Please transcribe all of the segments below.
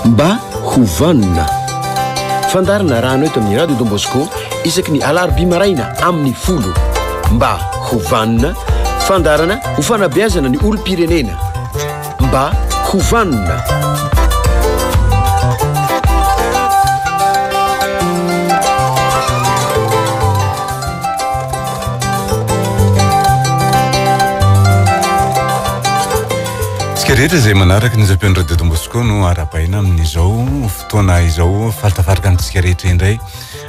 Mba ho vanona. Fandaharana rano eto amin'ny Radio Don Bosco isaky ny alarobia maraina amin'ny folo. Mba ho vanona. Fandaharana ho fanabeazana ny olom-pirenena. Mba ho vanona. Isika rehetra izay manaraka ny zapian'ny Radio Don Bosco no arabaina amin'izao fotoana izao falitafarika antsika rehetra indray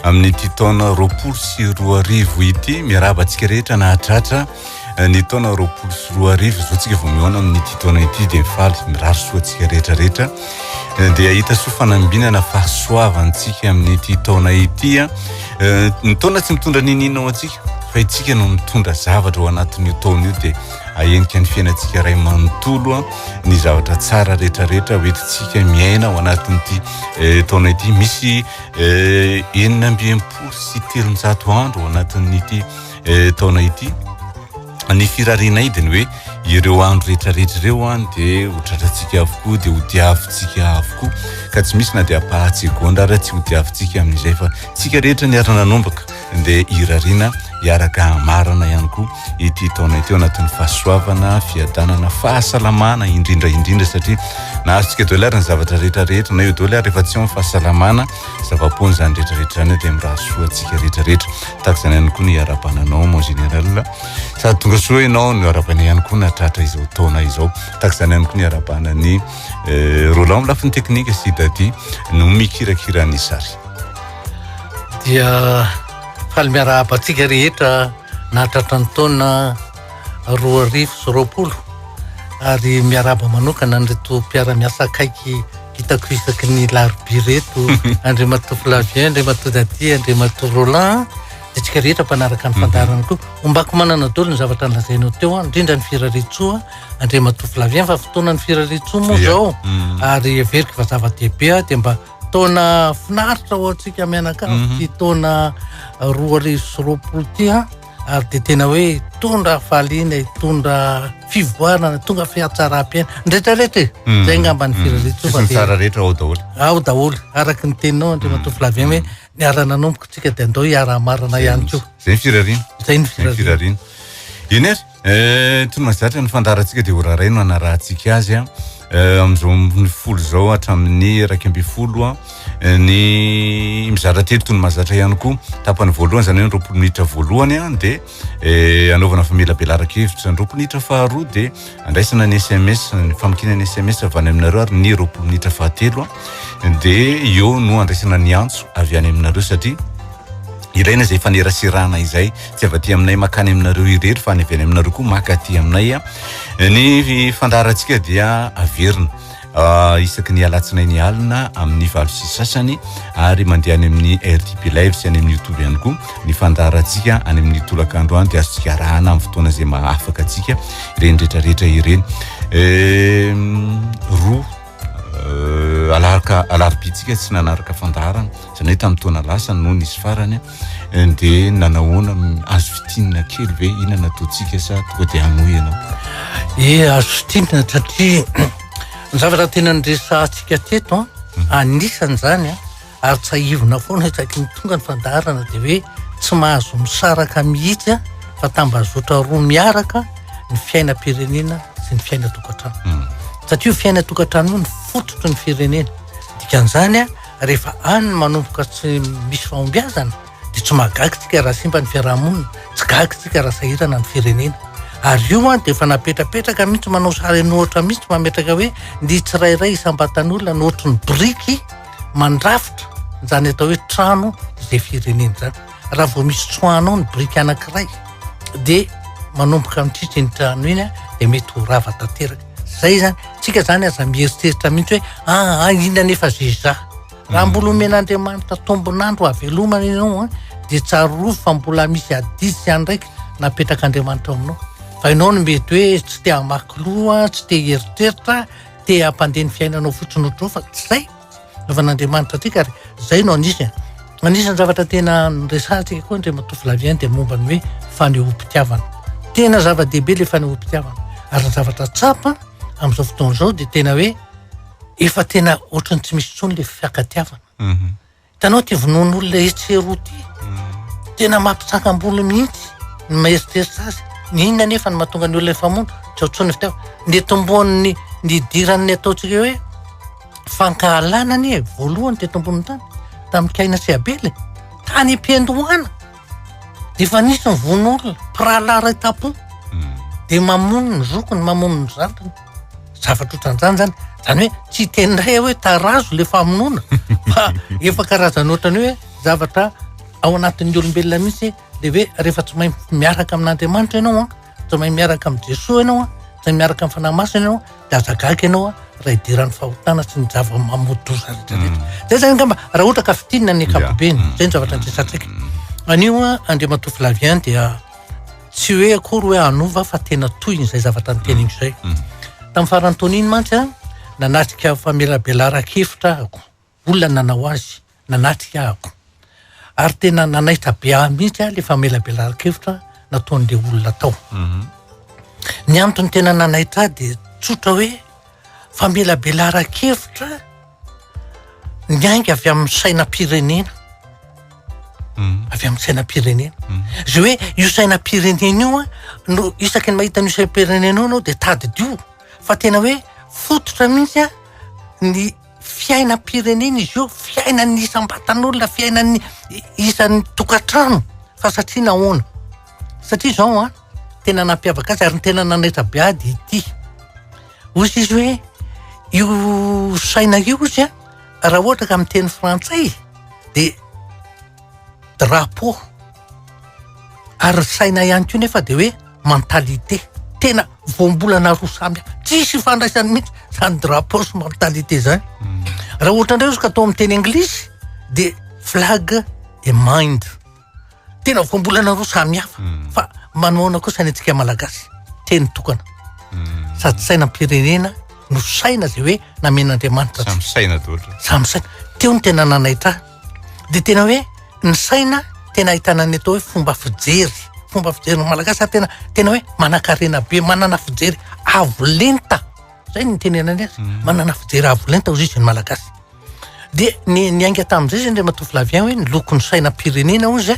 amin'ity taona roapolo sy roa arivo ity miaraba antsika rehetra nahatratra eh, ny taona roapolo sy roa arivo izao tsika vao mihaona amin'ity taona ity dia mifaly mirary soa antsika rehetra rehetra dia hita soa fanambinana fahasoavantsika amin'ity taona ity a eh, ny taona tsy mitondra ninina ho antsika fa itsika no mitondra zavatra ho anatin'io taona io dia ahenika ny fiainantsika iray manontolo a ny zavatra tsara rehetrarehetra hoetintsika miaina ho anatin'ity eh, taona ity misy eh, enina ambiempolo sy telonjato andro ho anatin'ity taona ity Ny firarianay dia ny hoe ireo andro rehetrarehetra ireo dia ho tratrantsika avokoa, dia ho diavintsika avokoa, ka tsy misy na dia ampahan-tsegondra ary tsy ho diavintsika amin'izay fa isika rehetra niara-nanomboka dia hirariana hiaraka hamarana ihany koa ity taona ity ao anatin'ny fahasoavana, fiadanana, fahasalamana indrindra indrindra satria nahazo tsika daholo ary ny zavatra rehetrarehetra na eo daholo ary efa tsy ao ny fahasalamana. zava-poana izany rehetrarehetra izany dia miraha soa antsika rehetrarehetra tahaka izany ihany koa ny harabananao mon général sady tonga soa ianao no harabana ihany koa nahatratra izao taona izao tahaka izany ihany koa ny harabana ny eh, Roland lafiny teknika sy Dadi no mikirakira ny sary dia faly miarahaba antsika rehetra nahatratra ny taona roa arivo sy roapolo ary miarahaba manokana an'ireto mpiara-miasa akaiky Hitako isaky ny larobia reto Andriamatoa Flavien, Andriamatoa Daty, Andriamatoa Roland, antsika rehetra mpanaraka ny mhm. fandaharana koa. Ombako manana dolo ny zavatra nolazainao teo, ah, indrindra ny firaretsoa, ah, Andriamatoa Flavien, fa fotoana ny firaretsoa moa zao, mhm. ary heveriko fa zava-dehibe, ah, dia mba taona finaritra ho antsika mianakavy, mhm. ty taona roa arivo sy roapolo ty, ary dia tena hoe tondra faliana e tondra fivoarana tonga fihatsaram-piaina ny retraretra e hmm. zay ngamba ny hmm. firaretsova tsara rehetra ao daholo ao daholo araka ny teninao andri matoa hmm. flavien hoe niara-nanomboka tsika dia andao hiara-marana ihany koa zay ny firariana zay ny firariana eny ary eh, tony mazatra ny fandarantsika dia horaraino anarahantsika azy a euh, amin'izao amin'ny folo izao hatramin'ny iraika ambin'ny folo a euh, ny mizara telo tony mazatra ihany koa tapany voalohany izany hoe ny roapolo minitra voalohany a dia eh, anaovana famelabelaraka hevitra ny roapolo minitra faharoa dia andraisana ny sms ny famokiana ny sms avy any aminareo ary ny roapolo minitra fahatelo a dia eo no andraisana ny antso avy any aminareo satria Ilaina izay faneraserana izay tsy avy aty aminay makany aminareo irery fa any avy any aminareo koa maka aty aminay a. Ny fandaharantsika dia averina ah, isaky ny alatsinainy alina amin'ny valo sy sasany ary mandeha any amin'ny RTP Live sy any amin'ny YouTube ihany koa ny fandaharantsika any amin'ny tolakandro any dia azontsika arahana amin'ny fotoana izay mahafaka antsika ireny rehetrarehetra ireny. Eh, roa Euh, alarka alarobitsika tsy nanaraka fandaharana zany hoe tamin'ny taona lasa no nisy farany eh, de nanahoana azo fitinina kely ve ina nataontsika sa toa de hanoa ianao e eh, azo fitinina satria ny zavatra tena nyresahantsika teto an ah, mhm. anisan'izany an ah. ary tsahivina foana isaky ny tonga ny fandaharana dia hoe tsy mahazo misaraka mihitsy a fa tambazotra roa miaraka ny fiainam-pirenena sy ny fiainatokantrano hmm. satria io fiainatokantrano io ny fototry ny firenena dikan'izany a rehefa any manomboka tsy misy fahombiazana dia tsy mahagagytsika raha simba ny fiarahamonina tsy gagytsika raha sahirana ny firenena ary io a dia efa napetrapetraka mihitsy manao sary nohatra mihitsy mametraka hoe ny tsirairay isambatan'olona nohatry ny boriky mandrafitra izany atao hoe trano izay firenena izany raha vao misy tsoanao ny biriky anankiray dia manomboka mitritry ny trano iny a dia mety ho rava tanteraka zay zany tsika zany aza mieritreritra mihitsy hoe aa ah, ah, inona nefa zeza raha mbola omen'andriamanitra tombonandro avelomana ianao a dia tsarovy fa mbola misy adidy sy andraiky napetrak'andriamanitra aminao fa ianao no mety hoe tsy te hamakiloha tsy te hieritreritra te hampandeha ny fiainanao fotsiny ho trofa tsy zay novan'andriamanitra antsika ary zay no anisy a anisan'ny zavatra tena resahantsika koa ndre matofilavien dia momba ny hoe fanehoam-pitiavana tena zava-dehibe le fanehoam-pitiavana ary ny zavatra tsapa amin'izao fotoana izao dia tena hoe efa tena ohatrany tsy misy tsony le fiakatiavana mhm. Hitanao ity vonoan'olona etsy eroa ity, tena mampisangam-bolo mihitsy ny maeritreritra azy. Ny inona anefa no mahatonga ny olona hifamono? Tsy ao intsony ny fitiavana. Ny tomboan'ny ny idiran'ny ataontsika hoe fankahalana anie voalohany teto ambonin'ny tany tamin'i Kaina sy Abela e. Tany am-piandohana. Efa nisy mivono olona, mpirahalahy iray tapo. Hmm. Dia mamono ny zokiny, mamono ny zandriny. Zavatra ohatran'izany zany. Zany hoe tsy teny iray hoe tarazo le famonoana fa efa karazana ohatrany hoe zavatra ao anatin'ny olombelona mihitsy le hoe rehefa tsy mahay miaraka amin'Andriamanitra ianao an, tsy mahay miaraka amin'i Jesoa ianao an, tsy mahay miaraka amin'ny fanahy masina ianao an, de aza gaga ianao a raha idiran'ny fahotana sy ny zava-mamoa-doza rehetrarehetra mm. zay zany angamba raha ohatra ka fitinina ny ankapobeny mm. zay ny zavatra andresantsika mm. anio a andriamatoa flavien dia tsy hoe akory hoe anova fa tena tohiny zay zavatra ny teniny zay tamin'ny farantoniny mantsy a nanatrika famelabelaran-kevitra ahako olona nanao azy, nanatrika ahako. Ary tena nanaitra be ahy mihitsy aho ilay famelabelaran-kevitra nataon'ilay olona tao. Mhm. Ny antony tena nanaitra ahy dia tsotra hoe famelabelaran-kevitra ny ainga avy amin'ny sainam-pirenena. Mhm. Avy amin'ny sainam-pirenena. Mhm. Izay hoe io sainam-pirenena io a, no isaky ny mahita an'io sainam-pirenena io ianao dia tadidio. Fa tena hoe fototra mihitsy a ny Fiainam-pirenena izy io, fiainan'ny isam-batan'olona, fiainan'ny isan'ny tokantrano fa satria nahoana? Satria izao an, tena nampiavaka azy ary ny tena nanaitra be ahy dia ity. Hoy izy hoe io saina io hozy an, raha ohatra ka miteny frantsay dia drapeau. Ary ny saina ihany koa nefa dia hoe mentalité. Tena voambolana roa samy hafa. Tsisy ifandraisany mihitsy izany drapeau sy mentalité izany. Hmm. Raha ohatra indray izy ka atao amin'ny teny anglisy dia flag et mind. Tena voambolana roa samy hafa. Hmm. Fa manoana koa sainantsika malagasy. Teny tokana. Hmm. Sady sainam-pirenena no saina izay hoe namen'Andriamanitra. Samy saina daholo. Samy saina. Teo ny tena nanaitra dia tena hoe ny saina tena ahitana ny atao hoe fomba fijery, fomba fijery ny Malagasy ary tena tena hoe manankarena be, manana fijery avo lenta, izay no itenenany azy, manana fijery avo lenta hoy izy ny Malagasy. Dia ni- niainga tamin'izay izay Andriamatoa Flavien hoe ny lokon'ny sainam-pirenena hoy izy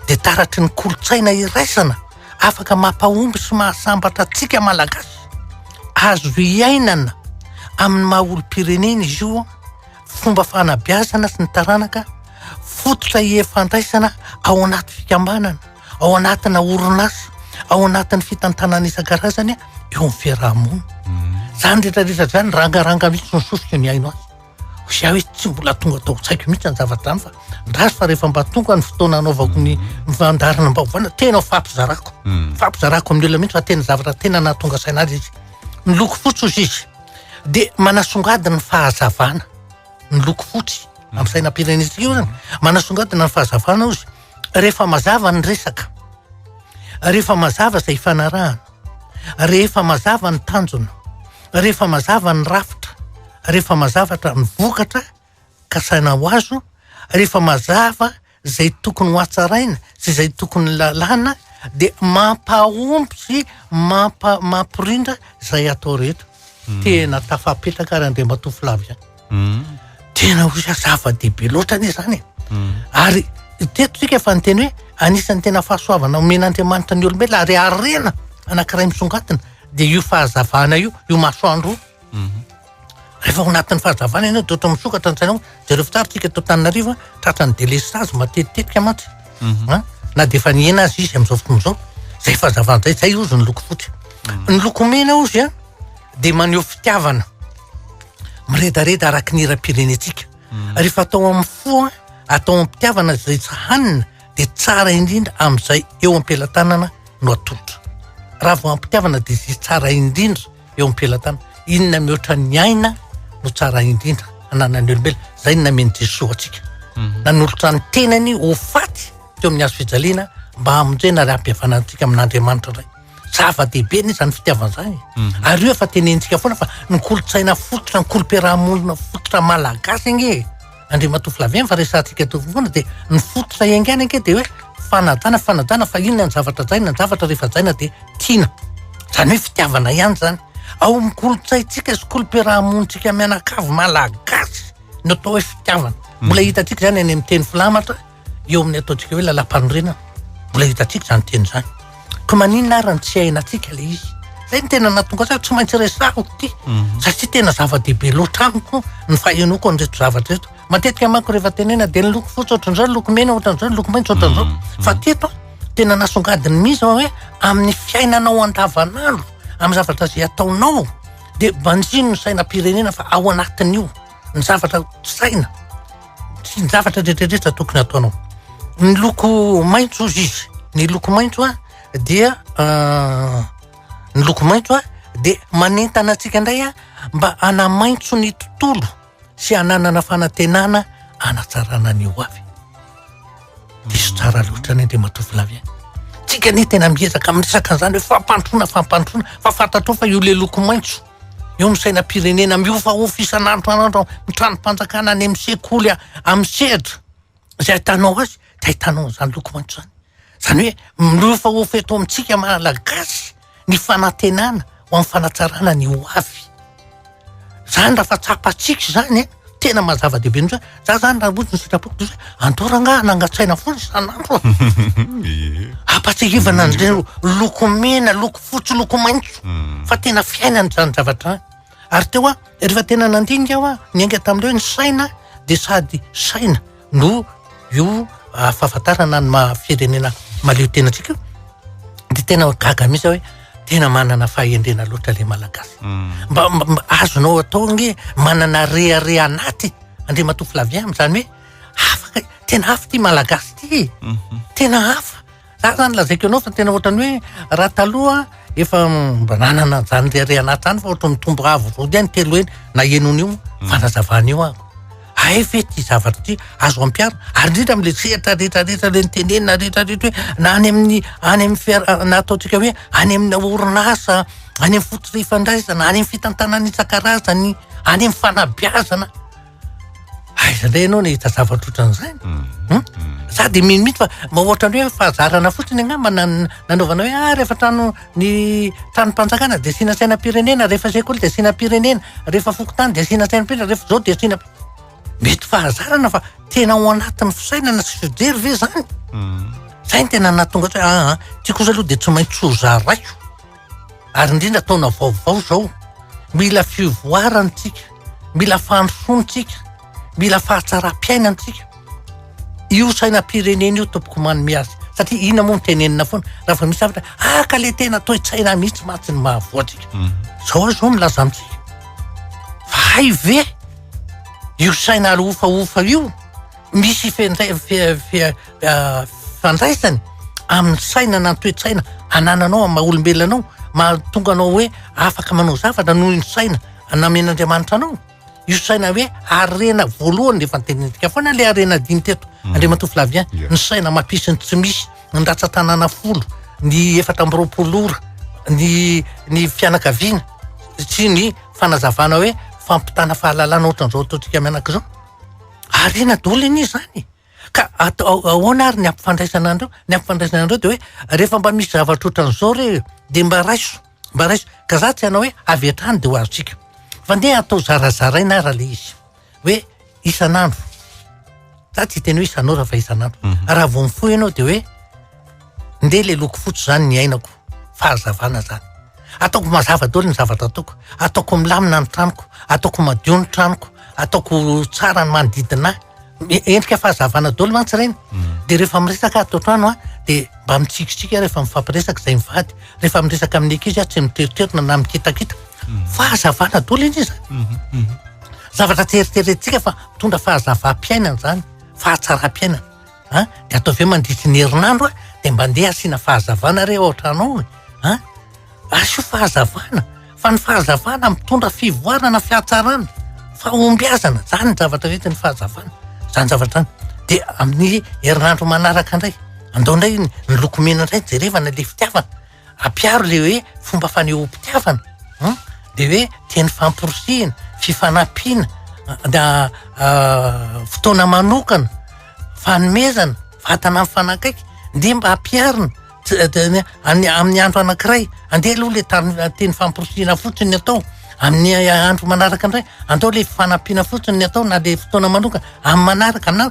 dia taratry ny kolontsaina iraisana afaka mampahomby sy mahasambatra antsika Malagasy, azo iainana amin'ny maha olom-pirenena izy io, fomba fanabeazana sy ny taranaka, fototra ifandraisana ao anaty fikambanana, ao anatina orinasa, ao anatin'ny fitantanana isan-karazany eo amin'ny fiaraha-monina. Mhm. Zany rehetra rehetra zany rangaranga mihitsy ny sosiko ny haino azy. Za hoe tsy mbola tonga tao an-tsaiko mihitsy ny zavatra zany fa ndraso fa rehefa mba tonga ny fotoana anaovako ny mhm. fandarina mba hovana tena ho fampizarako. Mhm. Fampizarako amin'ny olona mihitsy fa tena zavatra tena nahatonga saina azy izy. Miloko fotsy hozy izy. Dia manasongadina ny fahazavana ny loko fotsy amin'ny sainam-pirenentsika io zany. Manasongadina ny fahazavana ozy rehefa mazava ny resaka, rehefa mazava izay ifanarahana, rehefa mazava ny tanjona, rehefa mazava ny rafitra, rehefa mazavatra ny vokatra. kasaina ho azo rehefa mazava izay tokony ho atsaraina sy izay tokony lalàna dia mampahomby sy mampa- mampirindra izay atao rehetra hmm. tena tafapetraka ary andriamatoa flavia hmm. tena ho za zava-dehibe loatra anie izany e hmm. ary tetotsika efa nyteny hoe anisan'ny tena fahasoavana omen'andriamanitra ny olombela ary arena anakiray misongatina dia io fahazavana io io masoandro io mhm. Rehefa ao anatin'ny fahazavana ianao dia ohatra misokatra ny sainao. Jereo fa tsara isika eto Antananarivo a, tratran'ny delestazy matetitetika mantsy an, na dia efa nihena aza izy amin'izao fotoana izao. Izay fahazavana izay, izay hozy ny loko fotsy. Ny loko mena hozy an, dia maneho fitiavana miredareda araka ny hiram-pirenentsika. Rehefa atao amin'ny fo an, atao amim-pitiavana izay tsy hanina dia tsara indrindra amin'izay eo am-pelatanana no atolotra. Raha vao amim-pitiavana dia izay tsara indrindra. eo am-pelantana. Inona mihoatra ny aina no tsara indrindra hananan'ny olombelona. Izay ny namen'i Jesoa antsika. Mhm. Nanolotra ny tenany ho faty teo amin'ny hazo fijaliana mba hamonjena ary hampihavana antsika amin'Andriamanitra indray. Zava-dehibe ny izany fitiavana izany. Mhm. Ary io efa tenenintsika foana fa ny kolontsaina fototra, ny kolom-piarahamonina fototra malagasy ange e. Andriamatoa Flavien fa resahantsika eto foana dia ny fototra iaingaina ange dia hoe fanajana, fanajana fa inona ny zavatra hajaina, ny zavatra rehefa hajaina dia tiana. Izany hoe fitiavana ihany izany. Ao amin'ny kolontsaintsika sy kolo-piarahamonintsika mianakavy malagasy ny atao hoe fitiavana. Mbola hitantsika izany any amin'ny teny filamatra. Eo amin'ny ataontsika hoe lalam-panorenana, mbola hitantsika izany teny izany. Ka maninona ary no tsy hainantsika ilay izy? Zay ny tena nahatonga za tsy maintsy resahako ity mhm. satria tena zava-dehibe loatra amiko ny fahenoako an'ireto zavatra reto. Matetika manko rehefa tenena dia ny loko fotsy ohatran'izao, ny loko mena ohatran'izao, ny loko maitso ohatran'izao. Mhm. Mhm. Fa teto tena nasongadiny mihitsy fa hoe amin'ny fiainanao andavanandro, amin'ny zavatra izay ataonao dia banjino ny sainam-pirenena fa ao anatin'io. ny zavatra saina, sy ny zavatra rehetrarehetra tokony ataonao. Ny loko maitso hozy izy, ny loko maitso an dia ny loko maitso an dia manentana antsika indray an mba hanamaitso ny tontolo sy hananana fanantenana hanatsarana ny ho avy. Diso tsara loatra ny Andriamatoa Filavy an. Tsika anie tena miezaka miresaka an'izany hoe fampandrosoana, fampandrosoana fa fantatrao fa io le loko maitso. Eo ny sainam-pirenena mihofahofa isan'andro an'andro amin'ny tranom-panjakana any amin'ny sekoly amin'ny sehatra izay ahitanao azy dia ahitanao an'izany loko maitso izany. Izany hoe mihofahofa eto amintsika Malagasy ny fanantenana ho amin'ny fanatsarana ny ho avy. Izany raha fa tsapantsika izany e! tena maha zava-dehibe mihitsy hoe za zany raha ohatra ny sitrapoko dia hoe andao rangahy nangan-tsaina foana isan'andro a ampahatsiahivana an'ireo loko mena loko fotsy loko maitso hmm. fa tena fiainana izany zavatra any ary teo a rehefa tena nandinika aho a niainga tamin'ireo ny saina dia sady saina no io fahafantarana ny maha firenena mahaleo tena antsika io dia tena gaga mihitsy aho hoe tena manana fahendrena loatra ilay malagasy mba azonao atao ange manana reare anaty andriamatoa flavien amin'izany hoe afaka tena hafa ity malagasy ity e tena hafa Zany zany lazaiko anao fa tena ohatrany hoe raha taloha efa mba nanana zany reharehana ato zany fa ohatrany mitombo avo vody any telo eny na enony io hmm. fanazavana io ako ay ve ty zavatra ty azo ampiaro ary indrindra amle sehatra retraretra le nitenenina retraretra hoe na any amin'ny any amin'ny fiar na ataontsika hoe any amina orinasa any amin'ny fototra ifandraisana any amin'ny fitantanana isan-karazany any amin'ny fanabiazana Aiza indray ianao nahita zavatra ohatran'izany? Hmm? Za dia mino mihitsy fa mba ohatran'ny hoe fahazarana fotsiny angamba nan- nanaovana hoe ah rehefa trano ny tranom-panjakana dia asiana sainam-pirenena, rehefa sekoly dia asiana firenena, rehefa fokontany dia asiana sainam-pirenena, rehefa izao dia asiana. Mety fahazarana fa tena ao anatin'ny fisainana sy fijery ve izany? Izay no tena nahatonga azy hoe aa, ity kosa aloha dia tsy maintsy ho zaraiko. ary indrindra taona vaovao izao, mila fivoarana isika, mila fandrosoana isika, mila fahatsaram-piainana isika. Io sainam-pirenena io tompoko manome azy satria inona moa no tenenina foana raha vao misy zavatra ah ka le tena toe-tsaina mihitsy mantsy ny mahavoa antsika. Mm. Zao ary zao milaza amintsika. Fa hay ve io saina alohofahofa io Misy fifandraisany amin'ny fisainana ny toe-tsaina anananao amin'ny maha olombelona anao, mahatonga anao hoe afaka manao zavatra noho ny saina namen'Andriamanitra anao. Io saina hoe harena voalohany dia efa notenenintsika foana ilay harena dimy teto, Andriamatoa Flavien, ny saina mampisy ny tsy misy, ny ratsan-tanàna folo, ny efatra amby roapolo ora, ny ny fianakaviana sy ny fanazavana hoe fampitana fahalalana ohatran'izao ataontsika mianaka izao. Ariana daholo anie izany e! Ka atao ahoana ary ny ampifandraisana an'ireo? Ny ampifandraisana an'ireo dia hoe rehefa mba misy zavatra ohatran'izao re dia mba raiso, mba raiso. Ka za tsy hanao hoe avy hatrany dia ho azontsika. Fa ndeha atao zarazaraina ary ilay izy. Hoe isan'andro. Za tsy hiteny hoe isan'ora fa isan'andro. Raha vao mifoha ianao dia hoe. Ndeha le loko fotsy zany ny ainako fahazavana zany ataoko mazava daholo ny zavatra ataoko ataoko milamina ny tranoko ataoko madio ny tranoko ataoko tsara ny manodidina ahy endrika fahazavana daholo mantsy ireny hmm. de rehefa miresaka ato antrano a de mba mitsikitsiky rehefa mifampiresaka izay mivady rehefa miresaka amin'ny ankizy a tsy miteriterina na mikitakita hmm. fahazavana daholo iny izy hmm, zavatra teriterentsika fa mitondra fahazavam-piainana zany fahatsaram-piainana a de atao ve mandritry ny herinandro a de mba ndeha asiana fahazavana re ao an-trano ao a asio fahazavana fa ny fahazavana mitondra fivoarana fihatsarana fahombiazana zany ny zavatra rety ny fahazavana zany zavatra zany de amin'ny herinandro manaraka indray andao indray ny lokomena indray jerevana le fitiavana Ampiaro ilay hoe fomba fanehoam-pitiavana an, dia hoe teny famporisihina, fifanampiana, fotoana manokana, fanomezana, vatana mifanakaiky, dia mba ampiarina amin'ny andro anankiray, andeha aloha ilay tany teny famporisihina fotsiny no atao, amin'ny andro manaraka indray andao ilay fifanampiana fotsiny no atao na dia fotoana manokana amin'ny manaraka na.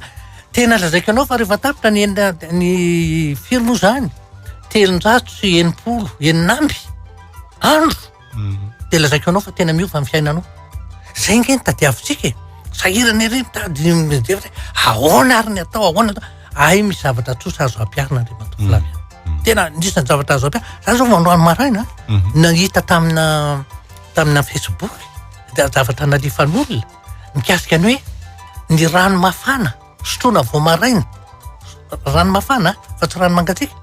Tena lazaiko anao fa rehefa tapitra ny enina ny firy moa zany telonjato sy enimpolo enina amby andro mhm. de lazaiko anao fa tena miova ny fiainanao zay nge ny tadiavintsika e sahirana ery mitady mijery ahoana ary ny atao ahoana atao ahy misy zavatra tsosa azo ampiarina andriamatoa mhm. Flavia mhm. tena nisany zavatra azo ampiarina za zao mandroany maraina nahita tamina tamina facebook de zavatra nalifan'olona mikasika ny hoe ny rano mafana sotroina vao maraina, rano mafana fa tsy rano mangatsiaka,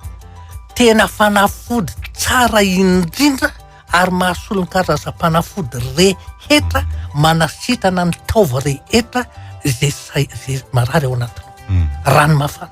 tena fanafody tsara indrindra ary mahasolo ny karazam-panafody rehetra manasitana ny taova rehetra izay marary ao anatinao, rano mafana.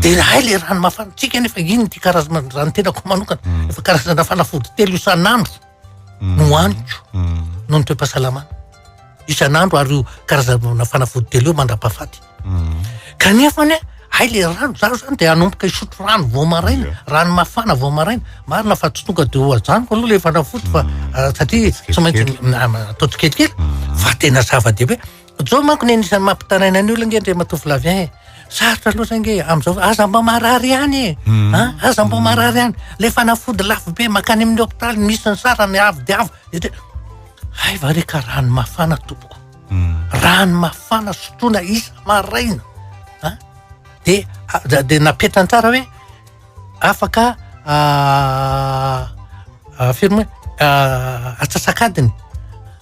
Dia hay ilay rano mafantsika nefa iny ity karazana raha ny tenako manokana mm. efa karazana fanafody telo isan'andro mm. no haniko mm. noho ny toe-pahasalamana isan'andro ary io karazana fanafody telo io mandra-pahafaty kanefa anie hay le rano zaho zany dia hanomboka hisotro rano vao maraina rano mafana vao maraina marina fa tsy tonga dia hoajaniko aloha le fanafody fa ah, satria tsy maintsy ah, atao tsikelikely fa tena zava-dehibe Zao manko ny anisany mampitaraina ny olona nge ndry matoa Flavien e. Sarotra loatra nge amzao aza mba marary ihany e. Hmm. A aza mba marary ihany. Le fanafody lafo be makany amin'ny hopitaly misy ny sarany avo dia avo. Hay va re ka rano mafana tompoko. Hmm. Rano mafana sotroina isa maraina. A de de napetrany tsara hoe afaka firme atsasak'adiny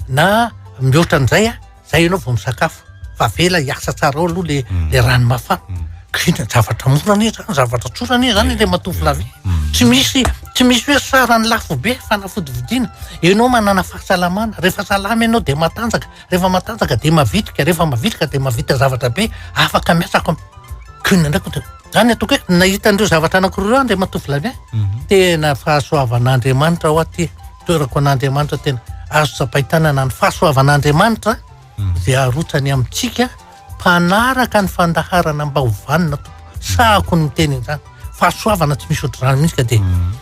na mihoatra an'izay a zay ianao vao misakafo fa avela hiasa tsara ao aloha le le rano mafana ka inona ny zavatra mora anie zany zavatra tsotra anie zany le matovo la vie tsy misy tsy misy hoe sarany lafo be fanafody vidiana ianao manana fahasalamana rehefa salama ianao de matanjaka rehefa matanjaka de mavitrika rehefa mavitrika de mahavita zavatra be afaka miasa ko inona indray ko. Zany ataoko hoe nahita an'ireo zavatra anankiroa ireo Andriamatoa Vladimir. Mhm. Tena fahasoavan'Andriamanitra ao aty toerako an'Andriamanitra tena azo tsapain-tanana ny fahasoavan'Andriamanitra mhm. izay arotsany amintsika mpanaraka ny fandaharana mba ho vanona tompo. Sahako ny miteny izany. Fahasoavana tsy misy ohatr'izany mihitsy ka dia mhm.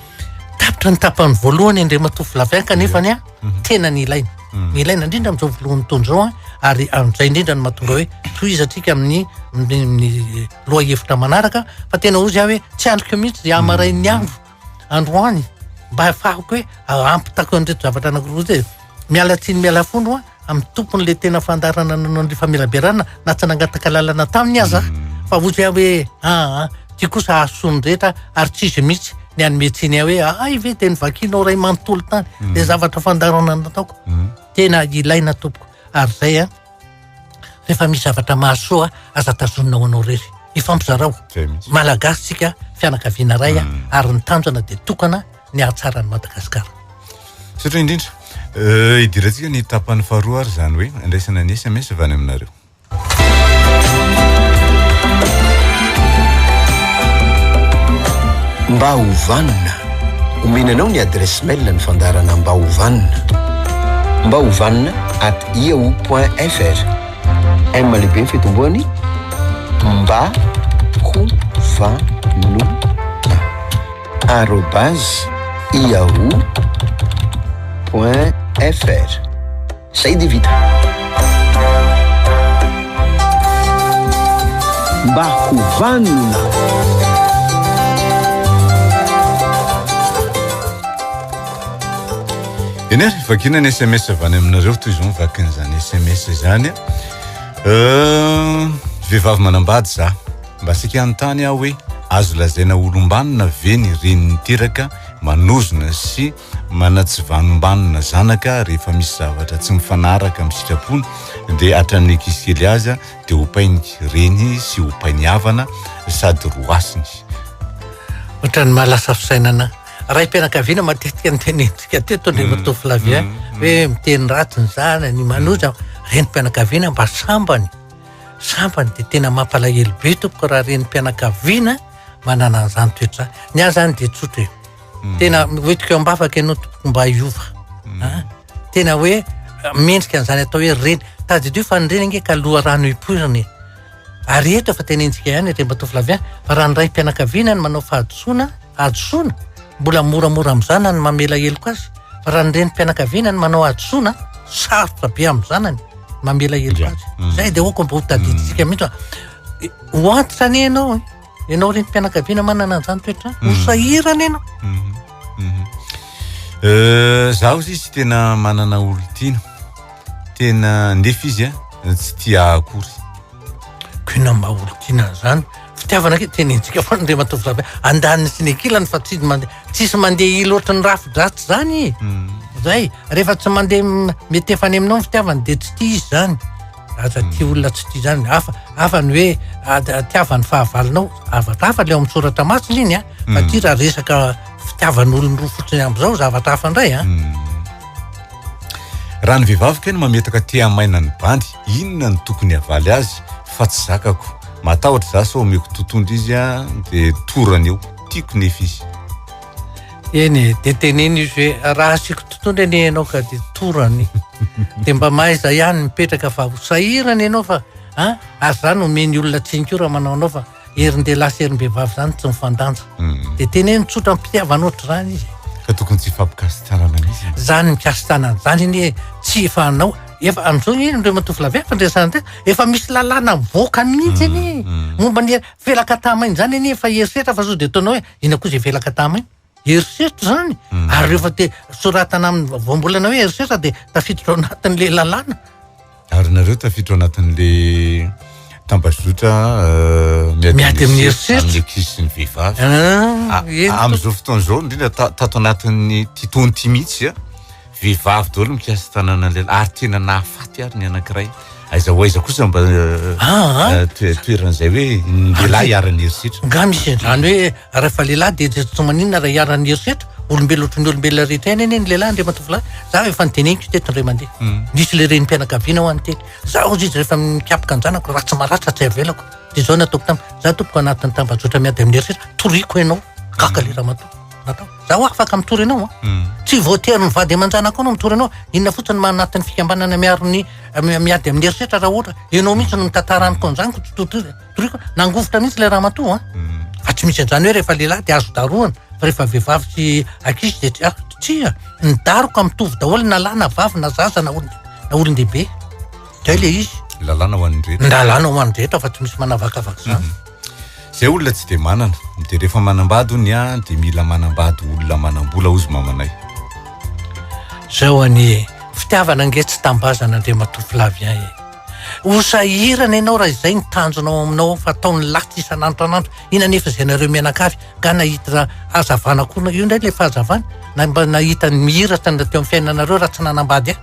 tapitra ny tapany voalohany Andriamatoa Vladimir kanefa ny a tena ny ilaina. Ny ilaina indrindra amin'izao voalohan'ny taona izao ary amin'izay indrindra ny mahatonga hoe tohizatsika amin'ny lohahevitra manaraka fa tena ozy aho hoe tsy andriko mihitsy dia hamarain'ny andro androany mba hafahako hoe ampitako an'ireto zavatra anankiroa zay miala tsiny miala fono a amin'ny tompon'la tena fandarana nanao ny famelaberana na tsy nangataka lalana taminy aza fa ozy aho hoe aa ah, ah, ty kosa hahasoany rehetra ary tsy izy mihitsy ny anome tsiny ahy hoe ahay ah, ve dia nyvakinao ray manontolo tany mm. dia zavatra fandarana nataoko mm. tena ilaina tompoko ary zay a Rehefa misy zavatra mahasoa aza tazonina ho anao irery. Ifampizarao. Malagasy tsika fianakaviana iray hmm. ary ny tanjona dia tokana ny hahatsara ny Madagasikara. Sotra indrindra. Euh, idirantsika ny tapany faharoa ary izany hoe andraisana ny SMS avy any aminareo. Mba hovanina. Omena anao ny adresse mail ny fandarana mba hovanina. Mba hovanina at yahoo.fr M lehibe ny fitomboany mba ho vanona arobase yahoo.fr Zay dia vita. Mba ho vanona. Eny ary, vakiana ny sms avy any aminareo toy izao mivaky an'izany sms izany. Vehivavy manambady za, mba asika hanontany aho hoe azo lazaina ho olom-banona ve ny reny niteraka manozona sy manatsivanom-banona zanaka rehefa misy zavatra tsy mifanaraka amin'ny sitrapony dia hatramin'ny ankizy kely aza dia opainy reny sy opainy havana sady roasiny. Ohatran'ny mahalasa fisainana raim-pianakaviana matetika ny tenentsika teto andriamatoa mm. Flavien mm. mm. hoe miteny ratsy ny zanany manoja renim-pianakaviana mba sambany sambany dia tena mampalahelo be tompoko raha renim-pianakaviana manana an'izany toetra ny ahy zany dia tsotra e tena hoetiko ambavaka ianao tompoko mba hiova Tena hoe mendrika an'izany atao hoe reny. Tadidio fa ny reny ange ka loharano ipoirana e. Ary eto efa tenenintsika ihany ry Ramatoa Flavien fa raha ny raim-pianakaviana no manao fahadisoana, hadisoana, mbola moramora amin'ny zanany ny mamela heloka azy. Fa raha ny renim-pianakaviana no manao hadisoana, sarotra be amin'ny zanany ny mamela heloka azy. Izay dia aoka mba hotadidintsika mihitsy fa ho antitra anie ianao e. Ianao renim-pianakaviana manana an'izany toetra izany, ho mm. sahirana ianao. Mm-hmm. Mm-hmm. Euh, zaho izy tsy tena manana olon-tiana. Tena ndefa izy a, eh, tsy tia akory. Kina mba olon-tiana an'izany. Fitiavana ke tena intsika foana dia matovy zabe. Andaniny sy ny kilany fa tsy mandeha tsisy mandeha i loatra ny rafi-dratsy izany. Mm. Zay, rehefa tsy mandeha mety efa any aminao ny fitiavana dia tsy tia izy izany. Aza hmm. tia olona tsy tia izany. Hafa, hafa ny hoe tiavan'ny fahavalonao. Zavatra hafa ilay ao amin'ny soratra masina iny an. Fa hmm. tia raha resaka fitiavan'olony roa fotsiny amin'izao zavatra hafa indray an. Hmm. Raha ny vehivavy kay no mametaka tia maina ny bandy, inona no tokony havaly azy fa tsy zakako. Matahotra za sao omeko totondry izy an, dia torany eo. Tiako nefa izy. Eny e, dia teneno izy hoe raha asiako tontolo anie ianao ka dia torany. Dia mba mahaiza ihany mipetraka fa ho sahirana ianao fa a ary izany omeny olona tsinika io raha manao anao fa herin-dehilahy sy herim-behivavy izany tsy mifandanja. Hmm. Dia teneno tsotra mpitiavana ohatr'izany izy. Ka tokony tsy fampikasitanana mihitsy. Izany mikasitanana izany anie tsy efa anao efa amin'izao anie ireo matovolavy efa ndresana tena efa misy lalàna mivoaka mihitsy anie hmm, hmm. momba ny felakatamaina izany anie efa herisetra fa sao dia ataonao hoe Inona koa izay velaka taminy? Herisetra izany hmm. ary rehefa te soratana amin'ny voambolana hoe herisetra dia tafiditra ao anatin'le lalàna. Ary nareo tafiditra ao anatin'le tambazotra euh, miady amin'ny herisetra kisy ny vehivavy. Ah, ah, amin'izao fotoana izao indrindra tato anatin'ny titoany ity mihitsy a. Ah. Vehivavy daholo mikasa tananan'ny lehilahy ary tena nahafaty ary ny anankiray. Aiza ho aiza kosa mba Ah, ah. eh, toe- toeran'izay hoe ny lehilahy hiaran'ny herisetra. Nga misy izany hoe rehefa lehilahy dia dia tsy maninona raha hiaran'ny herisetra, olombelona ohatry ny olombelona rehetra ihany anie ny lehilahy andriamatovolahy. Za efa niteneniko teto indray mandeha. Mm. Nisy le renim-pianakaviana ho an'ny teny. Za hozy izy rehefa mikapoka ny zanako raha tsy maratra tsy avelako. Dia izao nataoko taminy. Za tompoko anatin'ny tambajotra miady amin'ny herisetra, toriako ianao. Gaga le ramatoa. Natao. Zaho afaka mitory anao a. Ah. Hmm. Tsy voatery ny vady aman-janako anao mitory anao. Inona fotsiny maha anatin'ny fikambanana miaro ny eh, miady amin'ny herisetra raha ohatra ianao mihitsy no mitantara amiko an'izany ko totoriko. Nangovitra mihitsy ilay ramatoa a. Ah. Hmm. Fa tsy misy an'izany hoe rehefa lehilahy dia azo darohana fa rehefa vehivavy sy ankizy dia tsy ah, tsia. Ny daroka mitovy daholo na lahy na vavy na zaza na olon-dehibe. Zay le izy. Lalàna ho an'ny rehetra. Lalàna ho an'ny rehetra fa tsy misy manavakavaka izany. Hmm. Zay olona tsy de manana de rehefa manambady ony an de mila manambady olona manambola ozy mamanay. Zao anie e, fitiavana ange tsy tambazana Andriamatoa Flavien e. Ho sahirana ianao raha izay ny tanjona ao aminao ao fa ataon'ny latsy isan'andro tran'andro iny anefa izay nareo mianakavy nga nahitra hazavana koa io ndray le fahazavana na mba nahita ny mihiratra teo amin'ny fiainanareo raha tsy nanambady ahy.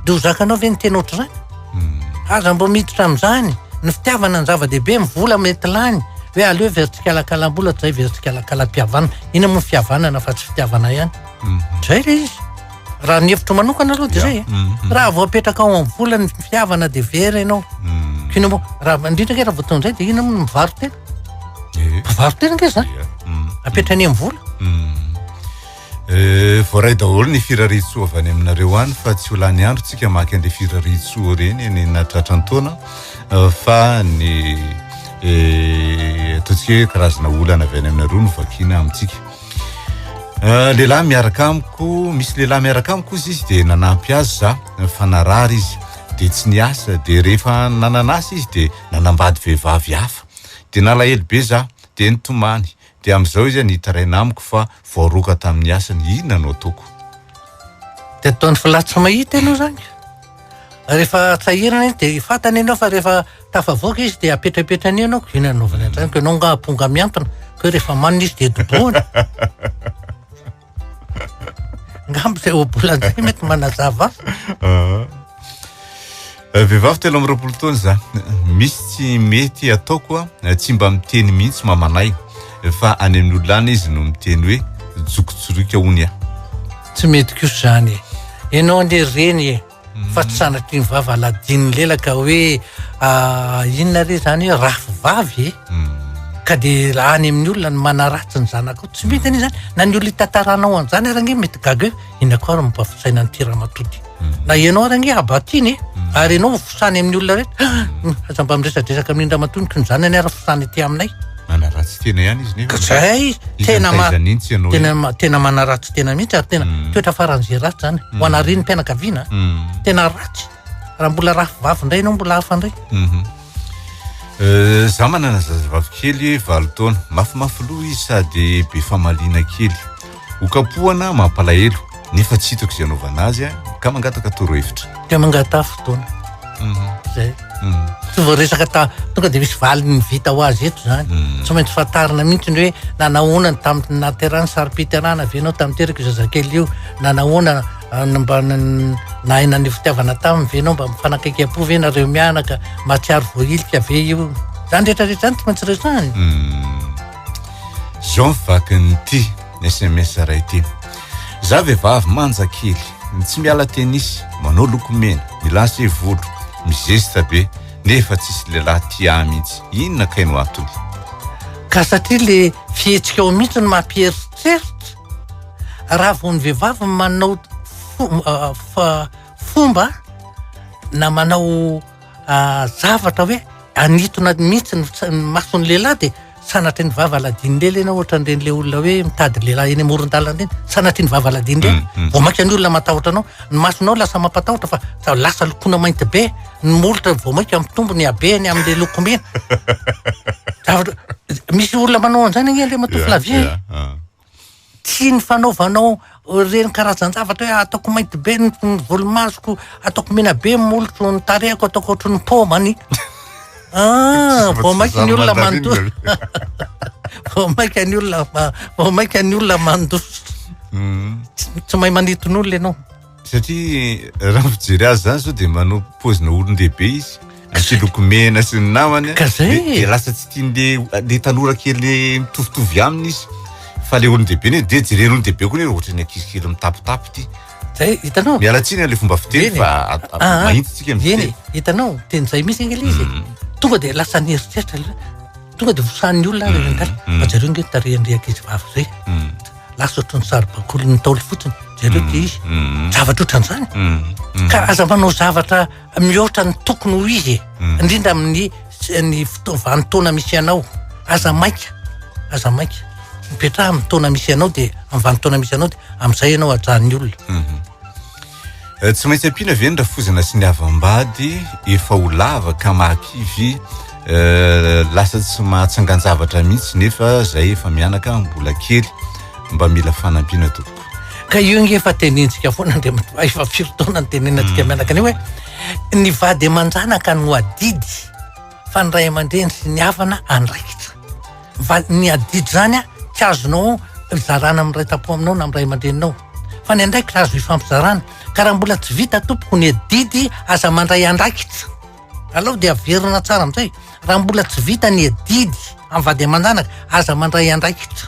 dia ho zakanao ve ny tena ohatr'izany hmm. aza mba miditra amin'izany ny fitiavana ny zava-dehibe ny vola mety lany hoe aleo veritsikalakalam-bola tozay veritsikalakalam-pihavanana ina moa fihavanana fa tsy fitiavana ihany hmm. zay ilay izy raha ny hevitro manokana aloha dia zay e. hmm. raha vao apetraka ao amin'ny vola ny fihavana dia vera ianao kina moa raha indrindra ke raha vao ton'izay dia ina moa ny mivaro tena eh. mivaro tena nge zany apetrany amin'ny vola Eh, voaray daholo ny firarian-tsoa avy any aminareo any fa tsy ho lany andro tsika maka an'ireny firarian-tsoa ireny eny na tratran'ny taona eh, fa ny eh, ataontsika hoe karazana olana avy any aminareo no vakina amintsika. Eh, lehilahy miaraka amiko, misy lehilahy miaraka amiko izy izy dia nanampy azy za eh, fa narary izy dia tsy niasa dia rehefa nananasa izy dia nanambady vehivavy hafa dia nalahelo be za dia nitomany Dia amin'izao izy nitaraina amiko fa voaroaka tamin'ny asany, inona no ataoko? Dia ataony fa latsy mahita ianao izany. Rehefa tsahirina izy dia fantany ianao fa rehefa tafavoaka izy dia apetrapetrany eo ianao, inona no anaovany an'izany, koa ianao angaha amponga mihantona, koa rehefa manina izy dia dobohany. Ngambo zay obolanzay mety manazava. Ah. Eh, vehivavy telo amby roapolo taona za misy tsy mety ataoko a eh, tsy mba miteny mihitsy mamanay fa any amin'ny olona any izy no miteny hoe jokotsoroika ony a tsy mety kosa zany e ianao anie reny e Fa tsy sanatria ny vava aladinin'ny lela ka hoe ah, inona re izany hoe rafy vavy e hmm. ka dia lany amin'ny olona ny manaratsy ny zanakao tsy mety anie izany na ny olona hitantaranao an'izany ary ange mety gaga hoe inona koa ary mampavisaina ny tiramatoty hmm. na ianao ary ange abatiny e hmm. ary ianao fosany amin'ny olona rehetra ah, aza mba miresadresaka amin'ny indramatonika ny zanany ary fosany ety aminay Manaratsy tena ihany izy nefa. Zay tena ma tena tena manaratsy tena mihitsy ary tena mm. toetra faran'izay ratsy zany. Mm. Ho anariny mpianakaviana mm. tena ratsy. Raha mbola raha vavy indray ianao mbola hafa indray. Mhm. Eh, za manana zazavavy kely valo taona. Mafimafy loha izy sady be famaliana kely. Ho kapohana mampalahelo nefa tsy hitako izay anaovana azy a, ka mangataka torohevitra. Dia mangataha fotoana. Mhm. Zay. Mhm. Tsy voaresaka ta tonga dia misy valiny vita ho azy eto zany. Mhm. Tsy maintsy fantarina mihitsy ny hoe nanahoana ny tamin'ny naterana sarim-piterana avy ianao tamin'ny teraka io zazakely io. Nanahoana ah, ny mba n- nahay naneho fitiavana taminy ve ianao mba mifanakaikiam-po ve nareo mianaka mahatsiaro voahilika ve io. Zany rehetrarehetra zany tsy maintsy resahina. Mhm. Jean vakin'ity sms raha ity za vehivavy manja kely ny tsy miala tenisy manao lokomena milace volo mizesta be nefa tsisy lehilahy tia ahy mihitsy inona kay no atony ka satria le fihetsika ao mihitsy no mampieritreritra raha vao ny vehivavy manao fomba na manao zavatra hoe anitona mihitsy ny mason'ny lehilahy dia sanatria ny vava aladian'ny lela ianao ohatran'ireny le olona hoe mitady lehilahy eny amoron-dalana eny sanatria ny vava aladian'ny lela mm, mm. vao mainka ny olona matahotra anao ny masonao lasa mampatahotra fa za lasa lokona mainty be ny molotra vao mainka mitombo ny habe ny amin'le lokomena zavatra misy olona manao an'izany agne le matoa filavia ah. Tsy ny fanaovanao ireny karazan-javatra hoe ataoko mainty be ny volomasoko, ataoko mena be ny molotro, ny tarehiko ataoko ohatry ny paoma ny. Ah, vao mainka ny olona mandoa. Vao mainka ny olona vao mainka ny olona mandoa. Mm. Tsy mahay manitin'olona ianao. satria raha mijery azy zany zao dia manao pozina olon-dehibe izy sy loko mena sy ny namany ka zay dia lasa tsy tian'le le tanora kely mitovitovy aminy izy fa le olon-dehibe ne dia jereny olon-dehibe koa ne ohatran'ny ankizy kely mitapitapy ty zay hitanao miala tsiny le fomba fiteny fa mahitsitsika ny fiteny hitanao teny zay misy angela izy tonga dia lasa ny heritreritra Tonga dia vosahan'ny olona ary rangahy. Mm, mm. Fa jereo nge tarehan'ireo ankizy vavy izay. Mm. Lasa ohatran'ny saribakoly ny taolo fotsiny. Jereo dia izy. Zavatra ohatran'izany. Ka aza manao zavatra mihoatra ny tokony ho izy. E. Indrindra amin'ny ny vanin-taona misy anao. Aza maika. Aza maika. Mipetraha amin'ny taona misy anao dia amin'ny vanin-taona misy anao dia amin'izay ianao hajan'ny olona. Mhm. Tsy maintsy ampiana ve ny rafozana sy ny havam-bady efa ho lava ka mahakivy lasa tsy mahatsangan-javatra mihitsy nefa zay efa mianaka mbola kely mba mila fanampiana tompoko. Ka io nge efa tenenintsika foana Andriamatoa efa firy taona nitenenantsika mianaka an'io hoe ny vady aman-janaka no adidy. fa ny ray aman-dreny sy ny havana andraikitra. Fa ny adidy zany tsy azonao zarana amin'ny ray tampo aminao na amin'ny ray aman-dreninao. Fa ny andraikitra azo ifampizarana. Ka raha mbola tsy vita tompoko ny adidy aza mandray andraikitra. Alao dia averina tsara amin'izay. Raha mbola tsy vita ny adidy amin'ny vady aman-janaka aza mandray andraikitra.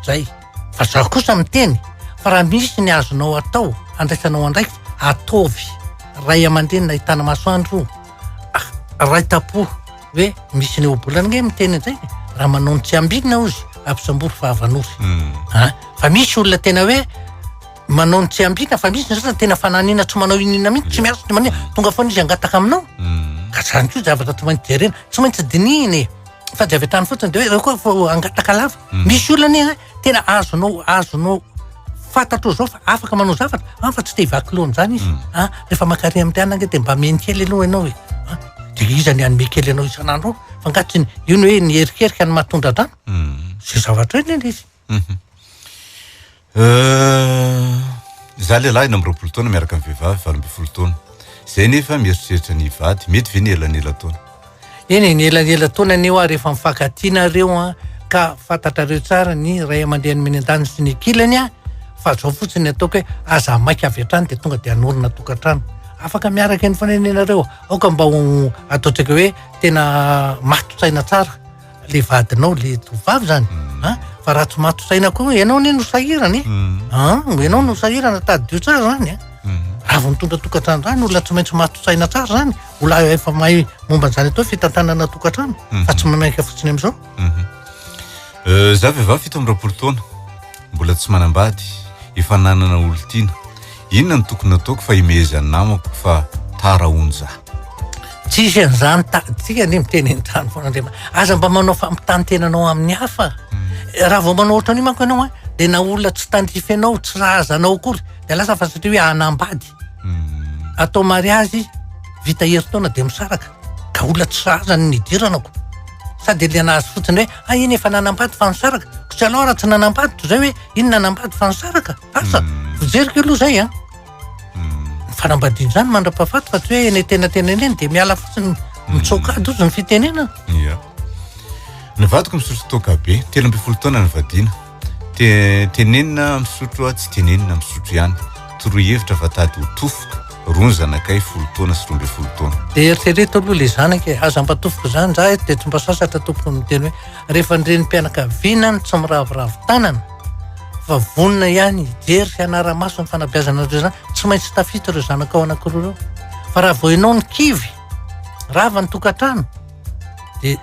Zay. Fa za kosa miteny fa raha misy ny azonao atao andraisanao andraikitra ataovy. Ray aman-dreny nahitana masoandro. raitapo hoe misy ny ohabolana nge miteny an'izay raha manao ny tsy ambinina ozy ampisambory fa avanosy hmm. a fa misy olona tena hoe manao ny tsy ambinina fa misy ny sasany tena fananina tsy manao inina mihitsy tsy miasa tsy manina tonga foana izy angataka aminao hmm. ka zany koa zavatra tsy maintsy jerena tsy maintsy dinihina e fa tsy avy an-tany fotsiny de hoe reo koa vao angataka lava hmm. misy olona anie tena azonao azonao fantatrao zao fa afaka manao zavatra an ah, fa tsy te hivaky loha amin'izany izy hmm. a ah, rehefa mankare amin'ny tiana ange dia mba meny kely aloha ianao e ah, de iza ny anome kely anao isan'andro fa nga tsy io ny hoe ny erikerika ny mahatondra drano hmm. zay zavatra hoe neny izy mhm. euh, za lehilahy ena am'roapolo taona miaraka ny vehivavy valo amby folo taona zay nefa mieritreritra ny vady mety ve ny elanela taona Eny e, ny elanelan-taona anie ho'a rehefa mifankatia nareo an, ka fantatrareo tsara ny ray aman-dreny miandahy sy ny kilany an, fa zao fotsiny ataoko hoe aza maika avy hatrany dia tonga dia hanorina tokantrano afaka miaraka eny foana anie nareo, aoka mba ho ataontsika hoe tena matin-tsaina tsara le vadinao le tovovavy zany mm. a fa raha tsy matotra aina koa ianao ne no sahirana e mm. a ianao no sahirana tadidio tsara zany a mm. raha vao mitondra tokantrano zany olona tsy maintsy matotra aina tsara zany ola efa mahay momba an'izany atao fitantanana tokantrano fa tsy manaiky fotsiny am'izao mhm. euh, za vehivavy fito amby roapolo taona Mbola tsy manambady, efa nanana olon-tiana. Inona no tokony hataoko fa himehezan'ny namako fa tara hono za. Tsisy an'izany ta, tsika anie miteny entrano foana Andriamanitra. Aza mba manao fampitantenanao amin'ny hafa. Hmm. Raha vao manao ohatran'io manko ianao a, dia na olona tsy tandrify anao, tsy razanao akory, dia lasa fa satria hoe hanambady. Hmm. Atao mariazy, vita herintaona dia misaraka. Ka olona tsy sahazany ny hidiranako. Sady liana azy fotsiny hoe, ah iny efa nanambady fa nisaraka. Ko tsy alao raha tsy nanambady toy izay hoe, iny nanambady fa nisaraka. Asa, hmm. vojeriko aloha izay an. Hmm. Ny fanambadiana izany mandra-pahafaty fa tsy hoe eny tena tena eny dia miala fotsiny mitsoka ady ozy ny fitenenana. Ny vadiko misotro toaka be, telo ambin'ny folo taona ny vadiana. Tenenina misotro aho tsy tenenina misotro ihany Toroy hevitra fa tady ho tofoka Roa ny zanakay folo taona sy roa ambin'ny folo taona Dia eritrereto aloha ilay zanaka e Aza mba tofoka izany ndra eto dia tsy mba sasatra tompoko no miteny hoe Rehefa ny renim-pianakaviana no tsy miraviravy tanana fa vonona ihany hijery sy hanara-maso ny fanabeazana an'ireo zanaka Tsy maintsy tafita ireo zanakao anankiroa ireo Fa raha vao ianao no kivy Rava ny tokantrano Dia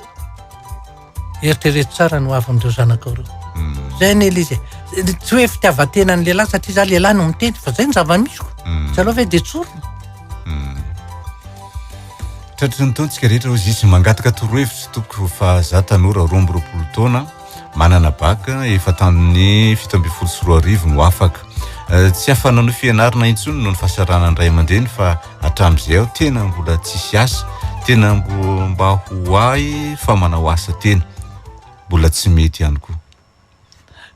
eritrereto tsara ny hoavin'ireo zanakao ireo. Hmm. Zay anie le izy e. Tsy hoe fitiavan-tena ny lehilahy satria za lehilahy no miteny fa zay ny zava-misy ko. Hmm. Zaleo ve de tsorina. Hmm. Tratry ny taontsika rehetra ozy izy mangataka torohevitra tompoko fa za tanora roa amby roapolo taona manana baka efa tamin'ny fito ambin'ny folo sy roa arivo no afaka. Eh, tsy afa-nanao fianarana intsony noho ny fahasaranan'ny ray aman-dreny fa hatramin'izay aho tena mbola tsisy asa tena mbo mba ho ahy fa manao asa tena mbola tsy mety ihany koa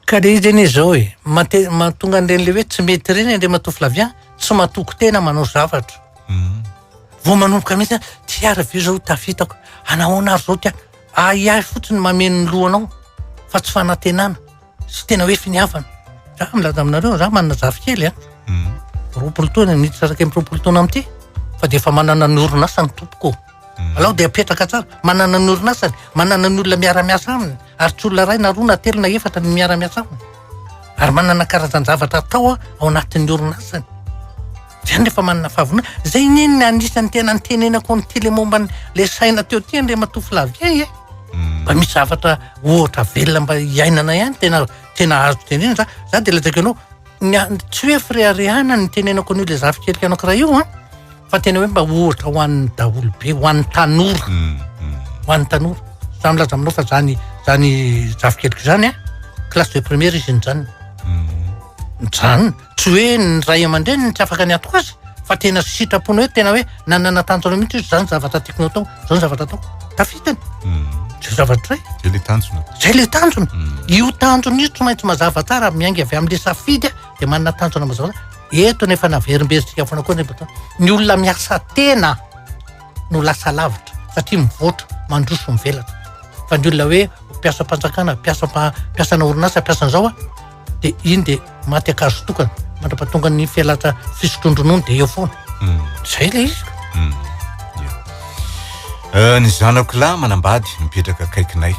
ka le izy anie izao e mate- mahatonga an'ireny le hoe tsy mety ireny andriamatoa flavien tsy matoky tena manao zavatra Mhm. vao manomboka mihitsy ty ary ve zao tafitako anahoana ary zao ty a- ahiahy fotsiny mameno ny lohanao fa tsy fanantenana sy tena hoe finiavana. Raha milaza aminareo, raha manana zafikely a, mm. roapolo taona, ny tsaraka amin'ny roapolo taona amin'ity, fa dia efa manana ny orinasa ny tompoko. Mm. Alao dia apetraka tsara, manana ny orinasany, manana ny olona miara-miasa aminy, ary tsy olona iray na roa na telo na efatra ny miara-miasa aminy. Ary manana karazan-javatra atao ao anatin'ny orinasany. Zany efa manana fahavonona. Zay anie ny anisan'ny tena nitenenako ny tele momba ny le saina teo ty Andriamatoa Flavien e. mba misy zavatra ohatra velona mba hiainana ihany tena tena azo tenenina za za de lazaiko anao ny a- tsy hoe fireharehana ny tenenako an'io le zafikelika anankiray io an fa tena hoe mba ohatra ho an'ny daholo be ho an'ny tanora Mm, mm. ho an'ny tanora za milaza aminao fa zany zany zafikeliko zany a classe de première izy nijanona mijanona Tsy hoe ny ray aman-dreny no tsy afaka niatoka azy fa tena sitrapony hoe tena hoe nanana tanjona mihitsy hoe izany zavatra tiako natao, izany zavatra ataoko. Tafitany. Hmm. Zay zavatra hoe. Zay le tanjona. Zay le tanjona. Hmm. Io tanjona io tsy maintsy mazava tsara miainga avy amin'le safidy dia manana tanjona mazava. Eto no efa naverimberitsika foana koa nefa ny olona miasa tena no lasa lavitra satria mivoatra mandroso mivelatra. Fa ny olona hoe mpiasam-panjakana, mpiasam-pa- mpiasana orinasa, mpiasan'izao a. dia iny dia maty akazo tokana mandrapatonga ny fialatra fisotroan-dronono dia eo foana hmm. zay le izy hmm. eh, ny zanako lahy manambady mipetraka akaikinay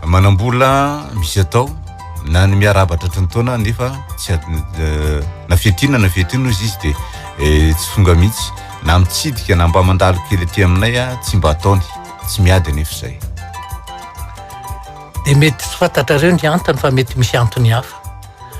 manambola misy atao na ny miaraba tratry ny taona nefa tsy eh, na fiatina na fiatina ozy izy dia eh, tsy fonga mihitsy na mitsidika na mba mandalo kely aty aminay a tsy mba ataony tsy miady anefa izay dia mety tsy fantatrareo ny antony fa mety misy antony hafa.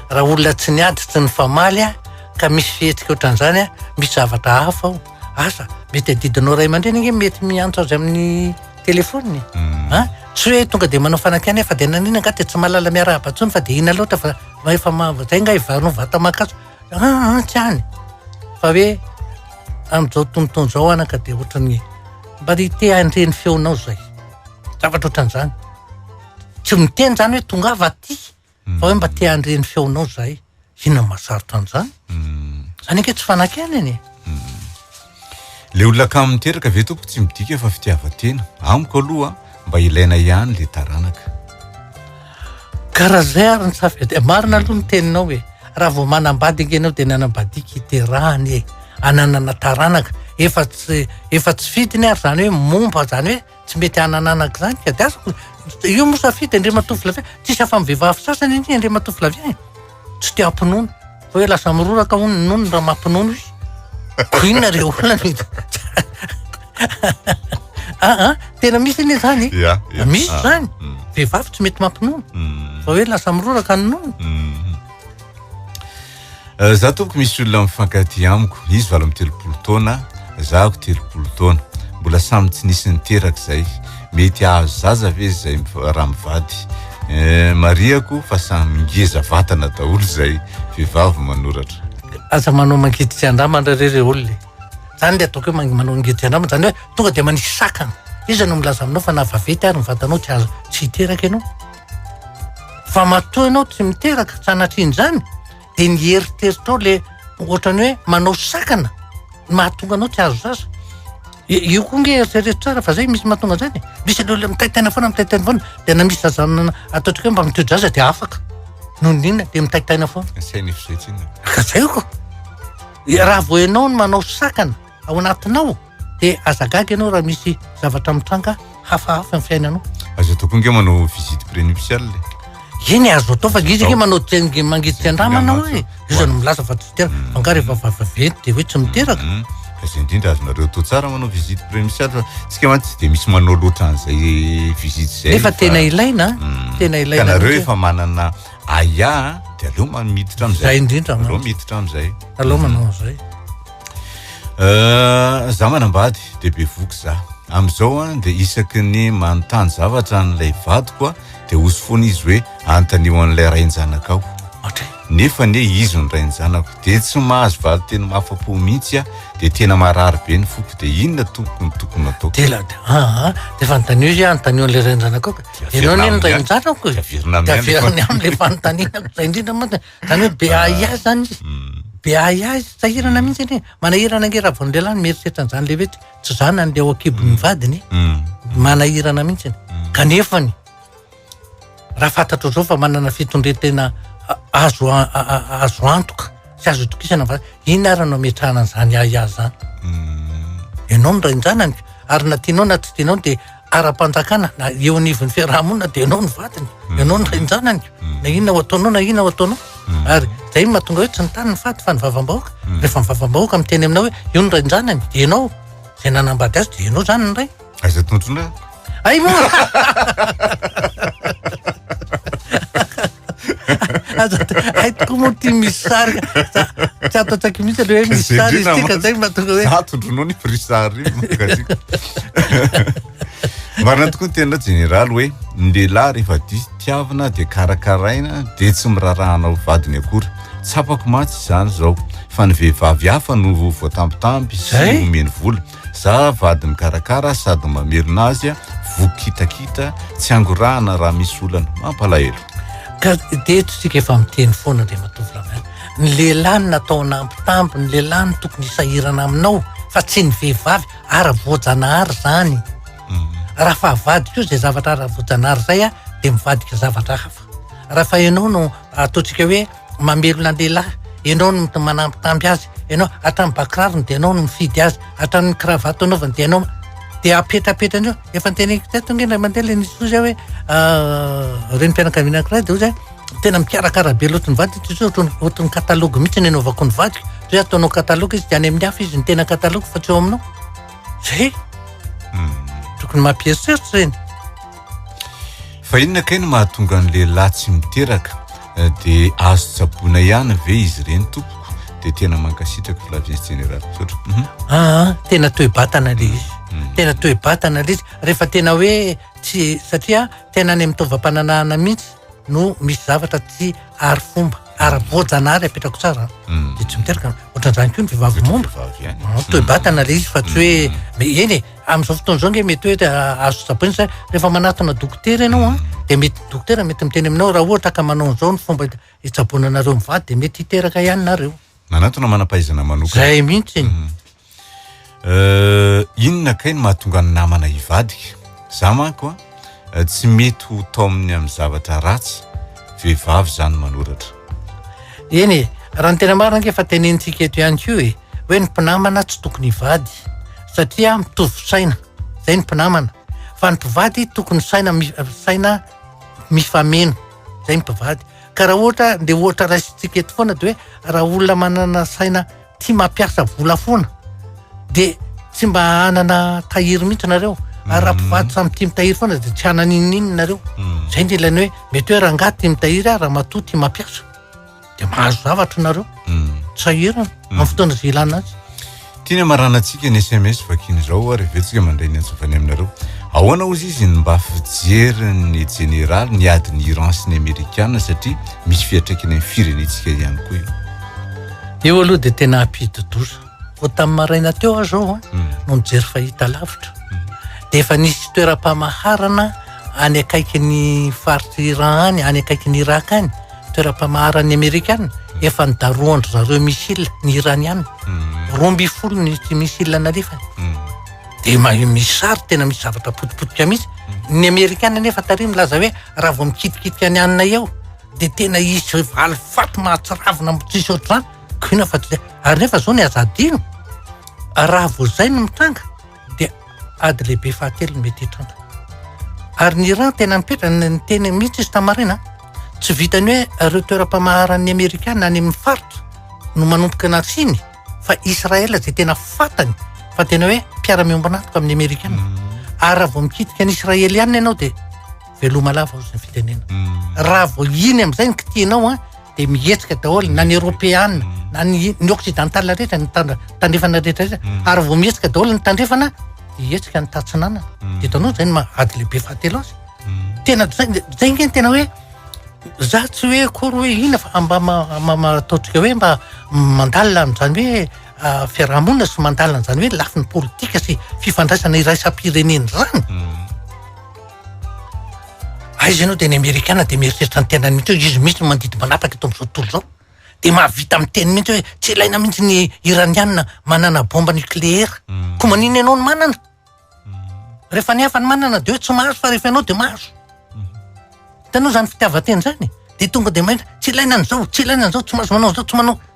Raha olona tsy niady tsy nifamaly aho ka misy fihetsika ohatran'izany aho, misy zavatra hafa ao. Asa, mety adidinao ray aman-dreny ange mety miantso azy amin'ny telefoniny. Mm. Ah, tsy hoe tonga dia manao fanakiana fa dia nanina angaha dia tsy mahalala miarahaba intsony fa dia ina loatra fa efa zay ngaha ivarinao vata mankaso. Ah, ah, tsy any. Fa hoe amin'izao tontolo izao anaka dia ohatran'ny mba ry te handre ny feonao izay. Zavatra ohatran'izany. Tsy miteny izany hoe tongava aty fa hoe mba te handre ny feonao izahay. Inona no mahasarotra an'izany? Izany ange tsy fanakianana e. Le olona kamo miteraka ve tompoko tsy midika fa fitiavan-tena. Amiko aloha mba ilaina ihany le taranaka. Ka raha zay ary ny safidia, marina aloha ny teninao e, raha vao manambady ange ianao dia ny hanambadiako iterahany e, hananana taranaka, efa tsy efa tsy fidiny ary zany hoe momba zany hoe tsy mety hanananako zany ka, dia azoko, io moa safidy Andriamatoa Flavien, tsisy afa-ny vehivavy sasany anie Andriamatoa Flavien e. tsy te hampinono fa hoe lasa miroraka hono ny nonony raha mampinono izy ko inona re olana aa ah, ah, tena misy anie zany misy ah, zany mm. vehivavy tsy mety mampinono mm. fa hoe lasa miroraka ny nonony mm. eh, za tompoko misy olona mifankaty amiko izy valo amy telopolo taona zahako telopolo taona mbola samy tsy nisy niteraka zay mety ahazo zaza ve zay raha mivady eh, marihako fa samy ngeza vatana daholo zay vehivavy manoratra aza manao mangidiky andamana re re olona zany le ataoko hoe manao mangidiky andamana zany hoe tonga de manisy sakana iza no milaza aminao fa na vavety ary ny vatanao tsy azo tsy hiteraka ianao fa matoa ianao tsy miteraka sanatria an'izany dia ny eritreritrao le ohatran'ny hoe manao sakana ny mahatonga anao tsy azo sasa io koa nge eritrereto tsara fa zay misy mahatonga an'zany e. misy an'ireo le mitaitaina foana mitaitaina foana dia na misy zazana ataontsika hoe mba miteo-jaza dia afaka noho ny inona dia mitaitaina foana Asaina fizetsina. ka zay ko raha vao ianao no manao sakana ao anatinao dia aza gaga ianao raha misy zavatra mitranga hafahafa ny fiainanao aza atao koa nge manao visite prénuptiale eny azo atao fa izy nge manao tenge mangitsika andramanao hoe iza no milaza fa tsy teraka hmm. fangary efa vavaventy dia hoe tsy miteraka hmm. aza indrindra azonareo atao tsara manao visite prénuptiale fa tsika mantsy tsy dia misy manao loatra an'izay visite zay nefa tena ilaina hmm. tena ilaina kanareo efa manana aia dia aleo miditra am'zay zay indrindra aleo miditra am'zay aleo manao an'izay Euh, za manambady de be voky za amizao an de isaky ny manontany zavatra an'ilay vadiko a de osy foana izy hoe antanio an'ilay rain-janakao nefa ne izy ny rain-janako de tsy mahazo valy teny mafapo mihitsy a de tena marary be ny foko de inona tokony tokony atao tela de aa de efa antanio izy antanio an'ilay rain-janakao ka ianao ne ny rain-janako e de averina aminy le fanontanianako za indrindra moa Zany hoe be ahiahy zany izy. Hmm. Be ahiahy izy, sahirana mihitsy anie. Manahirana ange raha vao ny lehilahy no mieritreritra an'izany lehibe tsy tsy zanany le ao an-kibon'ny hmm. vadiny. Hmm. Manahirana mihitsy. Kanefa ny raha fantatro zao fa manana fitondren-tena azo azo antoka sy azo itokisana fa ina ary no ametrahana an'izany ahiahy zany. Ianao no rain-janany ary na tianao na tsy tianao dia ara-panjakana na eo anivon'ny fiarahamonina dia ianao no vadiny mm. ianao no renjanany mm. na inona ho ataonao na inona ho ataonao mm. ary zay mahatonga hoe tsy ny tany ny fady fa ny vavambahoaka rehefa ny vavambahoaka miteny aminao hoe io ny renjanany dia ianao zay nanambady azy dia ianao zany ny ray aiza tontondrako ay moa Aza ay tokoa moa ty misy sary ka. Tsy ato an-tsaiko mihitsy aloha hoe misy sary izy ty ka zay mba tonga hoe. Za tondrono ny prix sary makatiko. Marina tokoa ny tena jeneraly hoe ny lehilahy rehefa diso tiavina dia karakaraina dia tsy mirarahana ho vadiny akory. Tsapako mantsy izany izao fa ny vehivavy hafa no voatambitamby sy omeny vola. Za vady mikarakara sady mamerina azy a, voky kitakita, tsy angorahana raha misy olana. Mampalahelo. Ka dia eto isika efa miteny foana Andriamatoa Flavien, ny lehilahy no natao hanambitamby, ny lehilahy no tokony hisahirana aminao fa tsy ny vehivavy, ara voajanahary izany. Raha fa avadiko izay zavatra ara voajanahary izay aho dia mivadika zavatra hafa. Raha fa ianao no ataontsika hoe. mamelona lehilahy, ianao no manambitamby azy, ianao hatramin'ny ba kirarony dia ianao no mifidy azy, hatramin'ny kravato anaovany dia ianao, dia apetrapetrany eo, efa noteneniko teto ange indray mandeha ilay nisy ozy ahy hoe ah, renim-pianakaviana anankiray dia ozy ahy, tena mikarakara be loatra ny vadiko ity ozy ohatran'ny ohatran'ny katalogy mihitsy ny anaovako ny vadiko, dia hoe ataonao katalogy izy dia any amin'ny hafa izy ny tena katalogy fa tsy eo aminao, zay, hmm. tokony mampieritreritra ireny. Fa inona kay no mahatonga ny lehilahy tsy miteraka? dia azo tsaboina ihany ve izy ireny tompoko? dia tena mankasitraka Flaviens General misaotra. Aa mhm. ah, ah, tena toe-batana le izy. Mhm. Tena toe-batana le izy rehefa tena hoe tsy satria tena any amin'ny taovam-pananahana mihitsy no misy zavatra tsy ary fomba ary voajanahary apetrako tsara hmm. de tsy miteraka ohatran'izany koa ny vehivavy momba hmm, toe batana le izy fa tsy hoe hmm. eny e amin'izao fotoana izao nge mety hoe ah, azo tsapaina sa rehefa manatona dokotera ianao a ah, de mety dokotera mety miteny aminao raha ohatra ka manao an'izao ny fomba hitsaboana anareo mivady de mety hiteraka ihany nareo manatona manam-pahaizana manokana zay mihitsy Euh, inona kay ny mahatonga ny namana hivadika? Za manko an, euh, tsy mety ho taominy amin'ny zavatra ratsy, vehivavy zany manoratra. Eny e, raha ny tena marina ange efa tenenintsika eto ihany koa e, hoe ny mpinamana tsy tokony hivady satria mitovy saina, zay ny mpinamana, fa ny mpivady tokony saina mi- saina mifameno, zay ny mpivady. Ka raha ohatra, le ohatra raisintsika eto foana dia hoe raha olona manana saina tia mampiasa vola foana dia tsy mba hanana tahiry mihitsy nareo ary mhm. raha mpivady samy tia mitahiry foana dia tsy hanana inininina nareo mhm. zay ny ilany hoe mety hoe rangahy tia mitahiry ah raha matoa tia mampiasa dia mahazo zavatra nareo mhm. sahirana amin'ny fotoana zay ilana azy tiany amaranantsika ny sms vakiny izao ary vetsika mandray ny antsofany aminareo ahoana ozy izy ny mba fijeryn'ny jeneraly ny adin'ny iran sy ny amerikana satria misy fiatraikany amin'ny firenentsika ihany koa io Io aloha dia tena ampidi-doza. Vao tamin'ny maraina teo aho izao an, hmm. no nijery fahita lavitra. Hmm. Dia efa nisy toeram-pamaharana any akaikin'ny faritry Iran any, any akaikin'ny Irak any, toeram-pamaharan'ny Amerikana, hmm. efa nidarohan-dry zareo missile ny Iraniana. Roa mby folo ny missile nalefany. Dia misy sary tena misy zavatra potipotika mihitsy. Ny Amerikana nefa tary milaza hoe raha vao mikitikitika any anina eo, dia tena hisy valifaty mahatsiravina amin'ny tsy misy ohatr'izany, koa inona fa tsy izay. Ary nefa izao ny aza adino, raha vao izay no mitranga dia ady lehibe fahatelo no mety hitranga. Ary ny Iran tena mipetra, niteny mihitsy izy tamarin, tsy vitan'ny hoe ireo toeram-pamaharan'ny Amerikana any amin'ny faritra no manomboka nasiany fa Israel izay tena fantany fa tena hoe mpiara-miombon'antoka amin'ny Amerikana. Ary raha vao mikitika an'i Israeliana ianao dia veloma lava ao zay fitenena raha vao iny am'zay ny kitianao a de mihetsika daholo na ny eropeana na ny ny occidental rehetra ny tana- tandrefana rehetra rehetra ary vao mihetsika daholo ny tandrefana de hihetsika ny tatsinanana de hitanao zay ny maha ady lehibe fahatelo azy tena zay zay nge ny tena hoe za tsy hoe akory hoe ina fa mba ma- ma- ma- ataontsika hoe mba mandalina an'zany hoe ah, fiarahamonina sy mandalina an'zany hoe lafiny politika sy fifandraisana iraisam-pirenena zany Aiza ianao dia ny amerikana dia mieritreritra ny tenany mihitsy hoe izy mihitsy no mandidy manapaka eto amin'izao tontolo izao. Dia mahavita miteny mihitsy hoe tsy ilaina mihitsy ny iraniana manana bomba nucléaire. Hmm. Koa maninona ianao no manana? Hmm. Rehefa ny hafa no manana dia hoe tsy mahazo fa rehefa ianao dia mahazo. Hmm. Hitanao izany fitiavan-tena izany? Dia tonga dia mahita tsy ilaina an'izao, tsy ilaina an'izao, tsy mahazo manao an'izao, tsy manao.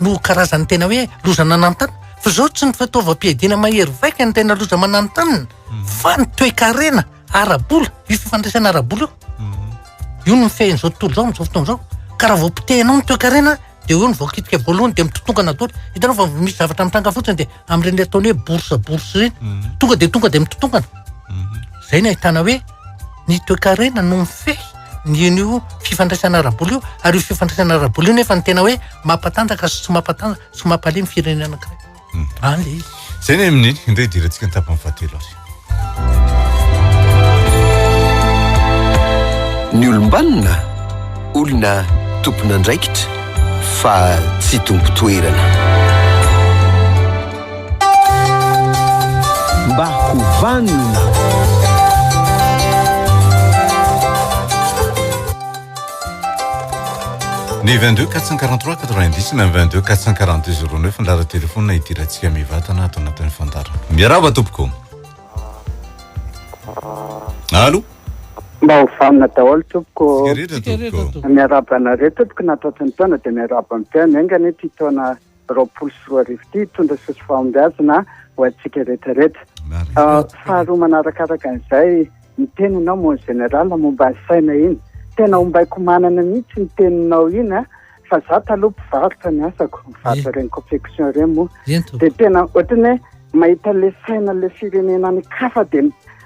no karazan'ny tena hoe loza nananontanina fa izao tsy ny fitaovam-piadiana mahery vaika ny tena loza mananontanina mm. fa ny toekarena arabola io fifandraisana arabola io mm. io no mifehin'izao tontolo izao amin'izao fotoana izao ka raha vao potehinao ny toekarena dia eo ny vaokitika voalohany dia mitotongana daholo hitanao fa misy zavatra mitranga fotsiny dia amin'ireny le ataony hoe borsa borsa ireny mm. tonga dia tonga dia mitotongana izay ny ahitana hoe Ny toekarena no mifehy ny an'io fifandraisana ara-bola io ary io fifandraisana ara-bola io nefa ny tena hoe mampatanjaka sy tsy mampatanjaka sy mampalemy ny firenena anankiray. Hmm. Any le izy. Zay ny amin'ny indray idirantsika ny tapany fahatelo ary. Ny olombanona olona tompon'andraikitra fa tsy tompo toerana. Mba ho vanona. Ny 22 443 90 na 22 442 09 ny lara telefona idirantsika mivatana ato anatin'ny fandarana. Miarahaba tompoko. Alo. Mba ho vanona daholo tompoko. Tsikaritra tompoko. Miarahaba anareo tompoko natatsin'ny taona dia miarahaba ny mpihaino engany ity taona roapolo sy roa arivo ity hitondra soa sy fahombiazana ho antsika rehetra rehetra. Faharoa manarakaraka an'izay, ny teninao mon général momba ny saina iny, tena ombaiko manana mihitsy ny teninao iny fa za taloha mpivarotra ny asako, mivarotra ireny confection ireny moa dia tena ohatran'ny hoe mahita le saina le firenena any kafa dia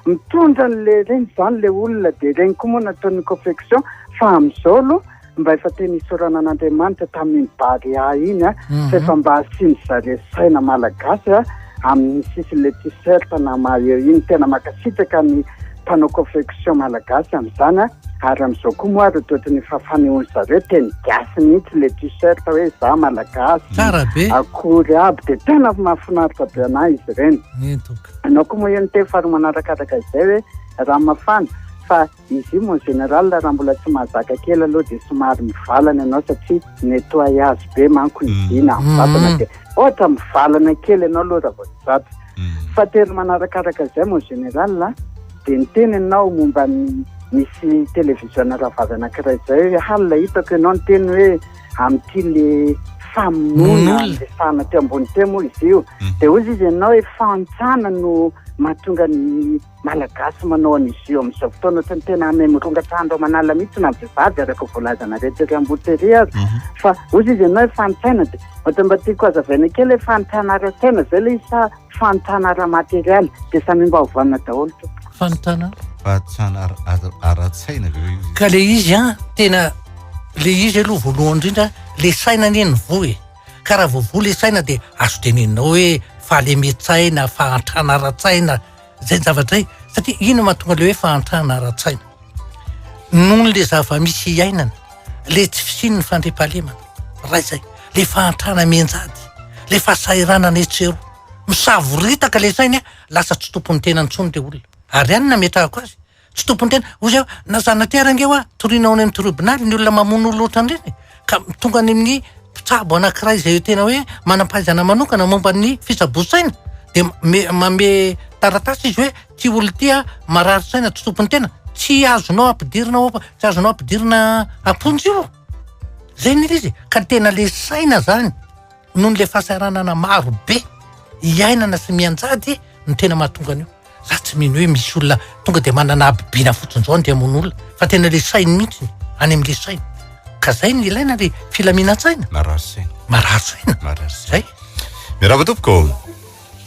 Mitondra anle reny zany le olona de reny koa moa nataony confection fa amizao aloha mba efa tena isaorana an'Andriamanitra tamin'iny Barea iny a fa efa mba asiany zare saina malagasy a amin'ny sisin'le t-shirt na maillot iny tena makasitraka ny mpanao confection malagasy amizany a ary amizao koa moa ary otrotrin'ny efa fanehoany zareo teny gasy mihitsy le t-shirt hoe za malagasy akory aby de tena mahafinaritra be anah izy reny. Ianao koa moa io niteny fa roa manarakatraka izay hoe rano mafana fa izy io mon général raha mbola tsy mahazaka kely aloha dia somary mivalana ianao satria nettoie azy be manko ny vy na ny vatana dia ohatra mivalana kely ianao aloha raha vao tsy zatra fa telo manarakaraka izay mon général a dia niteny ianao momba ny misy télévision rahavavy anankiray izay hoe halina hitako ianao niteny hoe amin'ity le famonoana andrefana teo ambony teo moa izy io mm. dia ozy izy ianao hoe fantsana no mahatonga ny malagasy manao an'izy io amin'izao fotoana ohatry ny tena ame mirongatrandro amanala mihitsy na vehivavy araka voalazanareo tery ambotery azy mhm. fa ozy izy ianao hoe fantsaina dia ohatry mba tiako azavaina kely hoe fantsanareo tena izay le isa Fanontana ara material dia samy mba hovana daholo tompoko. Fanontana? Fanontana ara-tsaina ve izy? Ka le izy an, tena le izy aloha voalohany indrindra, le saina anie ny voa e. Ka raha vao voa le saina dia azo teneninao hoe fahalemintsaina, fahantrana ara-tsaina, zay zavatra zay. Satria ino mahatonga le hoe fahantrana ara-tsaina? Noho le zava-misy iainana. le tsy fisian'ny fandriampahalemana, ray zay, le fahantrana mianjady, le fahasahiranana etsy sy eroa. Misavoritaka le sainy a, lasa tsy tompon'ny tenany intsony le olona. Ary any no nametrahako azy, tsy tompon'ny tena, hoy zay hoe na zana-tera ange hoa toriana ao any amin'ny triobonaly ny olona mamono olona ohatran'ireny e! ka tonga any amin'ny mpitsabo anankiray zay tena hoe manam-pahaizana manokana momba ny fitsaboan-tsaina de manome taratasy izy hoe Ty olona ty a, marary saina tsy tompony tena, tsy azonao ampidirina ao am-po, tsy azonao ampidirina am-ponja io. Zay ny izy e, ka tena le saina zany noho ny le fahasahiranana maro be iainana sy mianjady no tena mahatonga an'io. Za tsy mino hoe misy olona tonga de manana habibiana fotsiny zao andeha hamono olona, fa tena le sainy mihitsy, any amle sainy. Ka zay no ilaina le filaminan-tsaina. Marary saina. Marary saina. Marary saina. Zay. Miarahaba tompoko.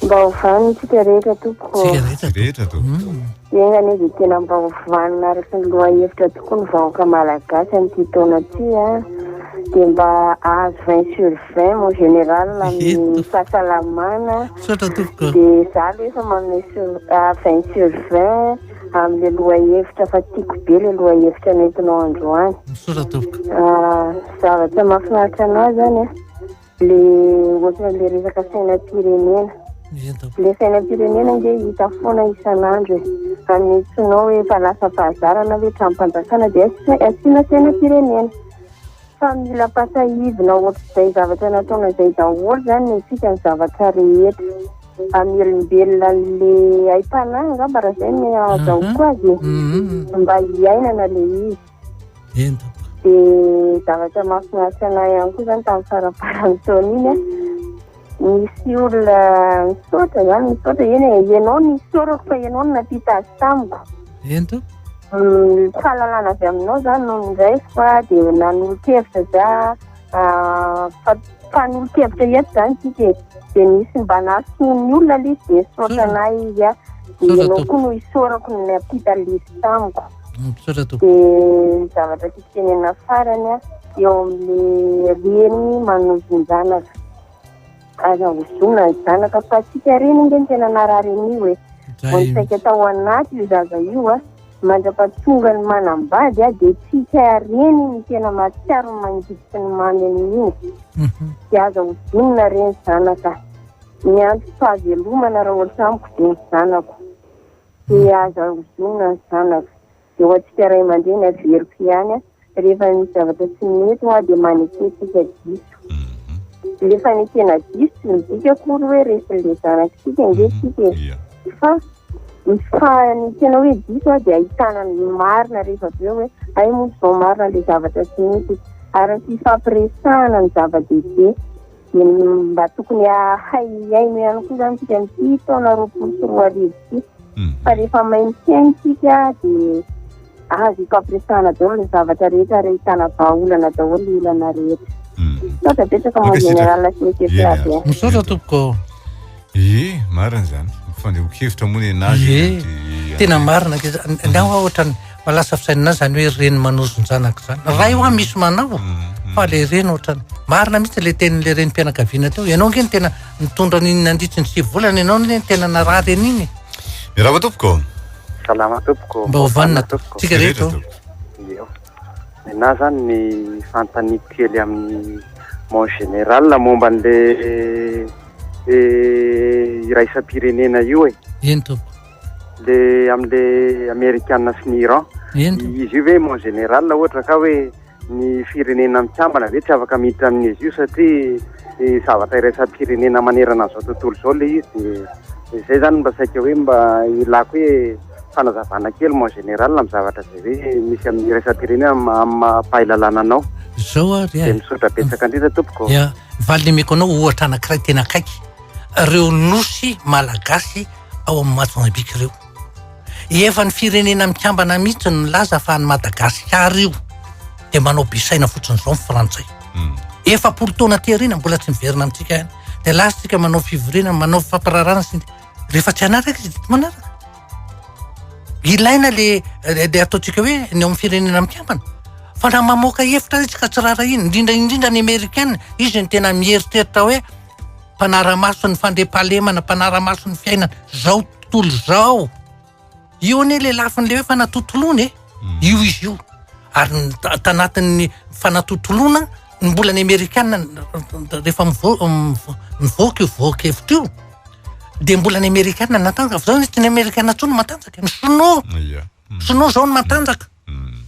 Mba ho vanona isika rehetra tompoko. Isika rehetra rehetra tompoko. Hmm. Enga anie dia tena mba ho vanona araka ny lohahevitra tokoa ny vahoaka malagasy an'ity taona ity a. Ah. Dia mba ahazo 20 sur 20 mon général amin'ny fahasalamana. Misaotra tompoko. Dia za aloha efa manome sur 20 ah, sur 20 amin'ilay lohahevitra fa tiako be ilay lohahevitra nentinao androany. Misaotra tompoko. Ah, zavatra mahafinaritra anao zany a. Ah. Le ohatran'ilay resaka sainam-pirenena. Le sainam-pirenena nge hita foana isan'andro e. Anetsinao hoe efa lasa fahazarana hoe tranom-panjakana dia asiana sainam-pirenena. Fa mila ampasahivina ohatr'izay zavatra nataona izay daholo zany ny antsika ny zavatra rehetra. Amelombelona le aim-panahy angamba raha zay no azahoako azy e. Mba hiainana le izy. Enta. Dia zavatra mahafinaritra anay ihany koa izany tamin'ny faramparan'ny taona iny a, nisy olona nisaotra izany, nisaotra eny e, ianao no isaorako fa ianao no nampita azy tamiko. Enta. Ny fahalalana avy aminao izany no niraisiko a, dia nanolo-kevitra za. Ah, fa mpanolo-kevitra ihany izany isika e. Dia misy mba nahasoa ny olona aloha izy dia nisaotra anay izy an. Dia Misaotra ianao tompoko. koa no hisaorako ny nampita lesy tamiko. Ah, Misaotra tompoko. Dia ny zavatra tiako tenenina farany an, eo amin'ny reny manozon-janaka. Aza ozona ny zanaka fa tsika reny nge ny tena narary anio e. Vao nisaika tao anaty io zaza io a, mandrapatonga ny manambady a de tsika reny ny tena mahatsiaro ny mangidy sy ny mamy amin'io. De aza ozonina re ny zanaka. Ny antom-pahavelomana raha ohatra amiko de ny zanako. De aza ozonina ny zanaka. dia ho antsika ray aman-dreny averiko ihany rehefa misy zavatra tsy mety hoa dia manekentsika diso mhm. le fanekena diso tsy midika akory hoe resy le zanakitsika mhm. nge tsika e fa ny fanekena hoe diso a dia ahitana ny marina rehefa avy eo hoe ay moa zao marina le zavatra tsy mety ary ny fifampiresahana ny zava-dehibe Dia mba tokony hahay hihaino ihany koa izany isika amin'ity taona roapolo sy roa arivo ity. Hmm. Fa rehefa mahay mihaino isika dia azo ifampiresahana daholo ny zavatra rehetra ary ahitana vahaolana daholo ny olana rehetra. Hmm. Misaotra betsaka Mao Général sy Monsieur Flavien. Misaotra tompoko. Ie, marina zany. Fandeho-kevitra moa nenazy. Ie, tena marina. Angaha hoa ohatrany malasa fisainana azy zany hoe reny manozon-janaka zany. Ray hoa misy manao, mm-hmm. fa le reny ohatrany. Marina mihitsy le tenin'le renim-pianakaviana teo. Ianao nge tena nitondra an'iny nandritry ny sivy volana ianao ne tena narary an'iny. Mirava tompoko. Salama tompoko. Mba hovanina tompoko. Tsika rehetra. Nenah zany ny fanontaniako kely amin'ny mon général momba an'le iraisam-pirenena io e. Eny tompoko. Le amin'le amerikana sy ny Iran. Eny tompoko. Izy io ve mon général ohatra ka hoe ny firenena mikambana ve tsy afaka miditra amin'izy io satria zavatra iraisam-pirenena manerana an'izao tontolo izao le izy dia izay zany mba saika hoe mba ilako hoe. Fanazavana kely mon général amin'ny zavatra izay hoe misy amin'ny iraisam-pirenena amin'ny maha-mpahalalana anao. Zao ary dia misaotra betsaka indrindra tompoko. Ya, valin'ny omeko anao ohatra anankiray tena akaiky, ireo nosy malagasy ao amin'ny Mozambique ireo. Efa ny firenena mikambana mihitsy no nilaza fa an'i Madagasikara io dia manao be saina fotsiny izao ny frantsay. Hmm. Efapolo taona aty aoriana mbola tsy miverina amintsika ihany. Dia lasa tsika manao fivoriana, manao fampirarana sy ny Rehefa tsy hanaraka izy, tsy manaraka. Ilaina le le ataontsika hoe ny ao amin'ny firenena mikambana. Fa raha mamoaka hevitra izy ka tsy raharahiana, indrindra indrindra ny Amerikana, izy no tena mieritreritra hoe mpanara-maso ny fandriampahalemana, mpanara-maso ny fiainana, zao tontolo zao. Io anie le lafiny le hoe fanatontoloana e. Hmm. Io izy io. Ary tanatin'ny fanatontoloana ny mbola ny Amerikana rehefa mivoaka io voaka hevitra io dia mbola ny Amerikana natanjaka. Fa zao tsy ny Amerikana intsony matanjaka, ny Sinoa. Hmm. Sinoa zao no matanjaka. Hmm.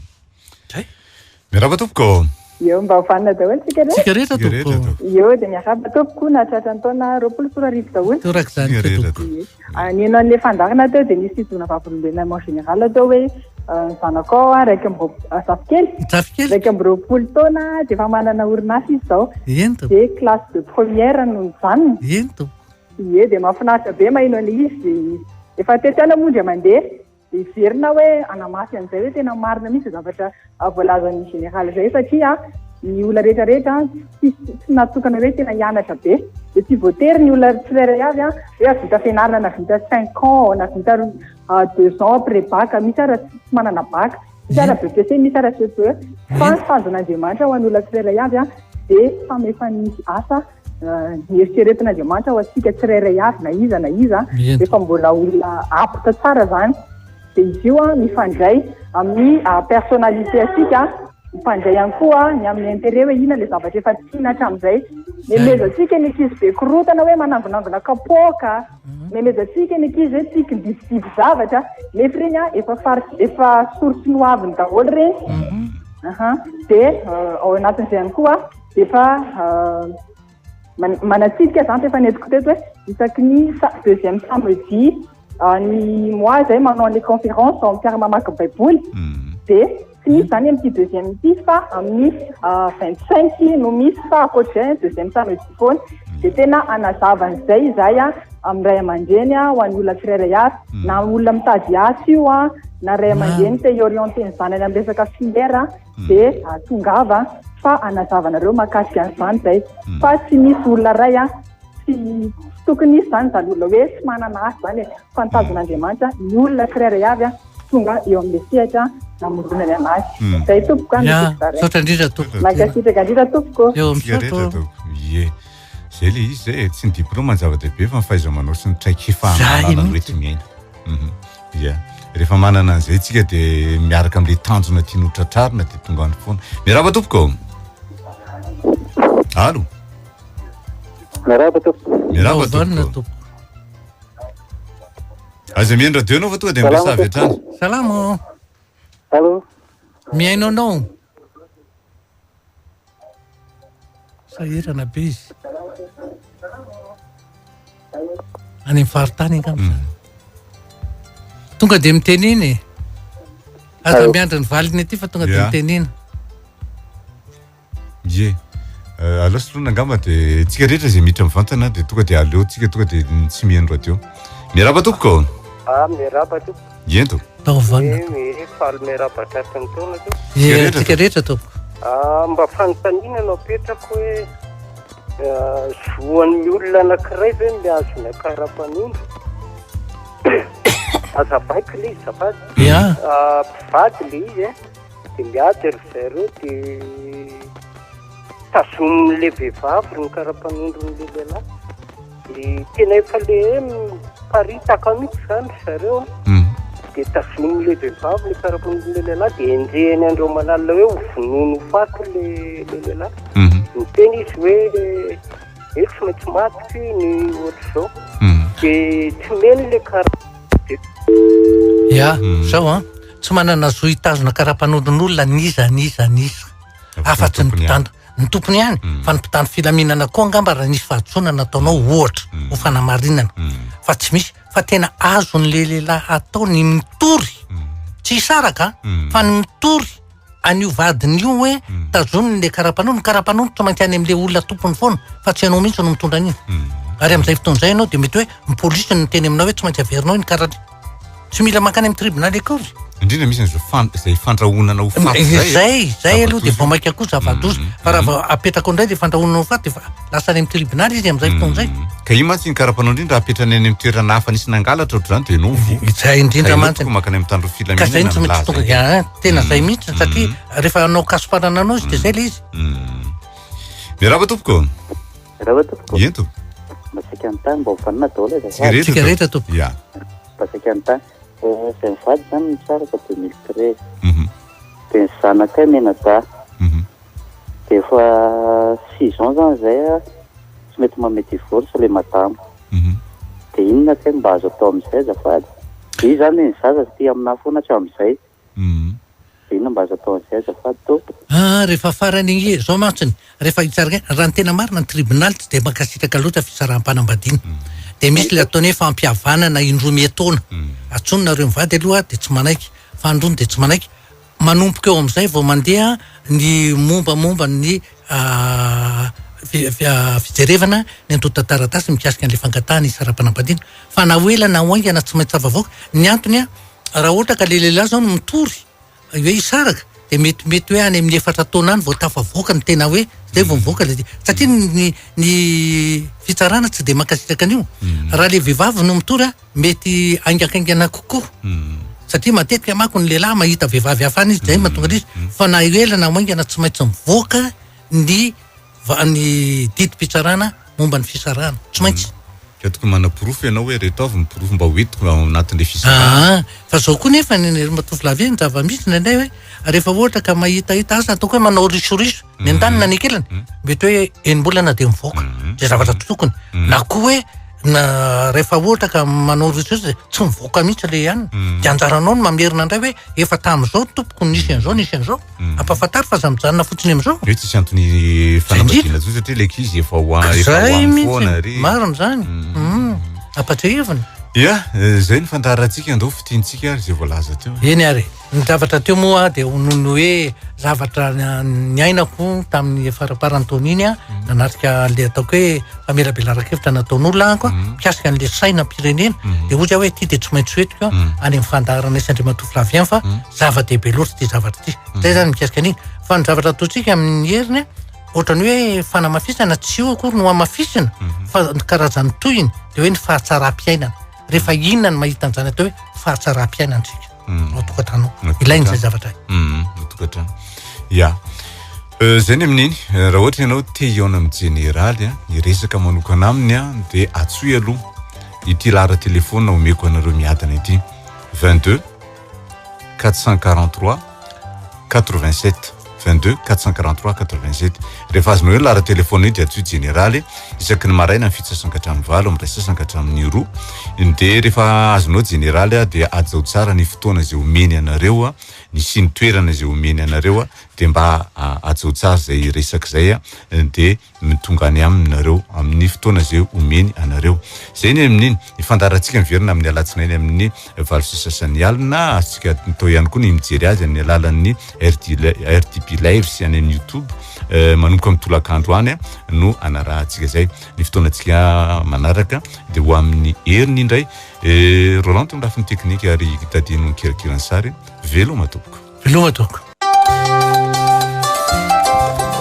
Miarahaba tompoko. Eo mba ho fanina daholo tsika rehetra. Tsika rehetra tompoko. Eo dia miarahaba tompoko nahatratra ny taona roapolo sy roa arivo daholo. Toraka izany tsika tompoko. Nino an'ilay fandaharana teo dia nisy fididoana vavolombelona mon général teo hoe ny zanako ao raika amby roapolo zafikely. Zafikely. Raika amby roapolo taona dia efa manana orinasa izy izao. Eny tompoko. Dia classe de première no nijanona. Eny tompoko. Ie dia mahafinaritra be maheno an'ilay izy. Efa tetiana moa indray mandeha. Heverina aho hoe hanamafy an'izay hoe tena marina mihitsy izay zavatra voalazan'ny Général izay satria ny olona rehetra rehetra tsy tsy natokana hoe tena hianatra be dia tsy voatery ny olona tsirairay avy hoe avita fianarana na vita cinq ans na vita ah, deux ans après bac misy ara tsy manana bac misy ara BPC misy ara CPE fa ny tanjon'Andriamanitra ho an'ny olona tsirairay avy dia famefan'ny asa Nieritreretin' Andriamanitra ho antsika tsirairay avy na iza na iza, rehefa mbola olona apte tsara izany, dia izy io an mifandray amin'ny personnalité antsika, mifandray ihany koa ny amin'ny intérêt hoe inona ilay zavatra efa tiana hatramin'izay. Nemezantsika ny ankizy be korontana hoe manangonangona kapoaka, nemezantsika ny ankizy hoe tia kidibidiby zavatra, nefa ireny an efa fari- efa source noaviny daholo ireny, ahan, dia ao anatin'izay ihany koa. Efa manatsidika izany fa efa nentiko teto hoe isaky ny deuxième samedi ny mois izay manao an'ilay conférence ao amin'ny mamaky baiboly hmm. dia tsy misy izany amin'ity deuxième ity fa amin'ny euh, vingt cinq no misy fa ankoatr'izay deuxième samedi foana hmm. dia tena anazava an'izay izahay a amin'ny ray aman-dreny a ho an'ny olona tsirairay avy hmm. na olona mitady asa io a na ray aman-dreny te hiorienter ny zanany amin'ny resaka filière dia ah, tongava fa hanazava anareo mahakasika an'izany izay hmm. fa tsy misy olona iray a tsy tokony hisy izany izany olona hoe tsy manana asa izany e fa ny tazon'andriamanitra hmm. ny olona tsirairay avy a tonga eo amin'le sehatra namoronany anazy hmm. zay tompoko a misaotra indrindra tompoko mankasitraka indrindra tompoko eo amin'y Zay le izy zay, tsy ny diplôma ny zava-dehibe fa ny fahaiza-manao sy ny traikefa ananana ny hoe tsy miaina. Mhm. Yeah. Rehefa manana an'izay tsika dia miaraka amin'ilay tanjona tianao tratrarina dia tonga any foana. Miarahaba tompoko. Alo. Miarahaba tompoko. Miarahaba tompoko. Aza mihaino radio anao fa tonga dia miresava avy hatrany. Salama. Alo. Mihaino anao. Sahirana be izy. Any amin'ny faritany angamba izany. Hmm. Tonga dia mitenena e. Aza miandry ny valiny aty fa tonga dia mitenena. Ye. Euh, aleo solona angamba dia tsika rehetra izay mitra mivantana dia tonga dia aleontsika tonga dia tsy mihaino radio. Miarahaba tompoko. Ah, miarahaba tompoko. Ento. Tao vanona. Eeh eh, faly miarahaba tratry ny taona aloha. Eeh, antsika rehetra tompoko. Ah, mba fanontaniana no apetrako hoe ah, zoan'ny olona anankiray ve ny azona karapanondro? Aza baiko le izy zafady. Ya. Ah, mpivady le izy eh. Dia miady ry zareo dia tazonin'ilay vehivavy ny karapanondron'ilay lehilahy. Dia tena efa ilay miparitaka mihitsy izany ry zareo an. Hmm. Dia tazonin'ny lehibem-bavy ny karapon'ilay lehilahy dia enjehiny Andriamalala hoe ho vonoiny ho faty ilay lehilahy. Hmm. Niteny izy hoe hoe tsy maintsy maty ty ny ohatr'izao. Hmm. Dia tsy meno ilay karapanondro. Ya, izao an, tsy manana zo hitazona karapanondron'olona n'iza n'iza n'iza afa-tsy ny mpitandro. ny tompony ihany mm. fa ny mpitandro filaminana koa angamba raha nisy fahadisoana nataonao mm. ohatra mm. ho fanamarinana fa tsy misy fa tena azony le lehilahy atao ny mitory tsy hisaraka fa ny mitory an'io vadiny io hoe tazoniny le karapanony ny karapanony tsy maintsy any am'le olona tompony foana fa tsy ianao mihitsy no mitondra an'iny ary am'izay fotoana izay ianao dia mety hoe ny polisy no teny aminao hoe tsy maintsy averinao iny karana Tsy mila mankany amin'ny tribonaly akory. Indrindra misy an'izao fan- izay fandrahonana ho faty Eh, izay. Zay, zay aloha dia vao maika koa zava-doza. Mhm, Fa raha mhm. vao apetrakao indray dia fandrahonana ho faty, dia fa- lasa any amin'ny tribonaly izy amin'izay fotoana izay. Mm. Ka io mantsy ny karapanao indrindra apetrany any amin'ny toerana hafa nisy nangalatra ohatr'izany dia enao voa. Izay indrindra Ka enao mantsy. tokoa mankany amin'ny tandroy Ka izay filaminana no tsy maintsy milaza tonga izay. dia, ah, tena izay Mm. mihitsy satria rehefa hanao kasoparana anao izy dia izay ilay izy. Mm. Miarahaba tompoko. Rava tompoko. Ento. Mba saika ny tany mba hofanina daholo aza. Tsika rehetra. Tsika rehetra tompoko. Ya. Mba saika ny tany. Eh, zay mivady zany ny tsara ka 2013. Mhm. De ny zanakay menadahy. Mhm. De efa six ans zany zay a, tsy mety manome divorce le madama. Mhm. De inona kay mba azo atao amizay azafady? Izy zany ny zaza aty aminah foana hatramizay. Humm. Dia inona mba azo atao an'izay azafady tompoko? Aa rehefa farany ange zao mantsy ny rehefa hitsarana hoe raha ny tena marina ny tribonaly tsy dia mankasitraka loatra fisaraham-panambadiana dia misy ilay ataony hoe fampihavanana indroa mietoana atsony nareo mivady aloha dia tsy manaiky fa androny dia tsy manaiky manomboka eo amin'izay vao mandeha ny mombamomba ny fijerevana ny antontan-taratasy mikasika an'ilay fangatahana hisaraham-panambadiana fa na ho ela na ho haingana tsy maintsy afavoaka ny antony an Raha ohatra ka le lehilahy zao no mitory hoe hisaraka de mety mety hoe any amin'ny efatra taona any vao tafavoaka ny tena hoe zay vao mivoaka le satria ny ny fitsarana tsy de mankasitraka an'io hmm. raha le vehivavy no mitory a mety aingankaingana kokoa hmm. satria matetika mako ny lehilahy mahita vehivavy hafa any izy zay hmm. mahatonga izy fa na ela na maingana tsy maintsy mivoaka ny va- ny didim-pitsarana momba ny fisarahana. Tsy maintsy. Ka tokony manaporofo ianao hoe reto avy ny porofo mba ho entiko ao anatin'ilay fisarahana. Aa, fa izao koa nefa ny ry matovolavy e, ny zava-misy indraindray hoe rehefa ohatra ka mahitahita asa ataoko hoe manao risoriso ny an-daniny na ny an-kilany, mety hoe enim-bolana dia mivoaka izay zavatra tsy tokony, na koa hoe na rehefa ohatra ka manao risoriso dia tsy mivoaka mihitsy ilay anona, dia anjaranao ny mamerina indray hoe efa tamin'izao tompoko nisy an'izao nisy an'izao. Ampahafantaro fa aza mijanona fotsiny amizao. Hoe tsisy antony fanambadiana tsony satria le kizy efa ho an efa ho an foana ry. Marina zany. Mhm. Ampatrehevina. Ya, zay ny fandaharantsika ndao fitiantsika ary zay voalaza teo. Eny ary. Ny zavatra teo moa dia ho noho ny hoe zavatra niainako tamin'ny faramparan'ny taona iny an, nanatrika an'le ataoko hoe famelabelaran-kevitra nataon'olona aho an, mikasika an'le sainam-pirenena, dia hoy zah hoe ity dia tsy maintsy hoentiko any amin'ny fandaharanay sy Andriamatoa Flavien fa, zava-dehibe loatra ity zavatra ity mhm. zay zany mikasika an'iny fa ny zavatra ataontsika amin'ny heriny ohatrany hoe fanamafisana tsy io akory no amafisina mhm. fa karazan'ny tohiny de hoe ny fahatsaram-piainana rehefa inona ny mahita an'izany atao hoe fahatsaram-piainana tsika mhm. ao tokantrano ilainy zay zavatra tokantrano ya euh, zay ny amin'iny euh, raha ohatra ianao te hiaona amin'ny jeneraly a ny resaka manokana aminy a dia atsoy aloha ity lahara telefona omeko anareo miadana ity 22 443 87 22 443 87 rehefa azonao eo ny lara telefona io dia atsoy jeneraly isaky ny maraina ny fitsasana ka hatramin'ny valo amin'ny ray sasana ka hatramin'ny roa dia rehefa azonao jeneraly a dia ajao tsara ny fotoana izay omeny anareo a ny siny toerana izay omeny anareo a dia mba ajao tsara izay resaka izay a dia ny tonga any aminy nareo amin'ny fotoana izay omeny anareo. Izay ny amin'ny fandaharantsika miverina amin'ny alatsinainy amin'ny valo sy sasany alina. Azontsika atao ihany koa ny mijery azy amin'ny alalan'ny RDB Lives any amin'ny YouTube. Manomboka amin'ny tolakandro any no anarahantsika izay. Ny fotoanantsika manaraka dia ho amin'ny heriny indray. Rolando ny lafiny teknika ary Daddy no nikirakiran'ny sary. Veloma tompoko. Veloma tompoko.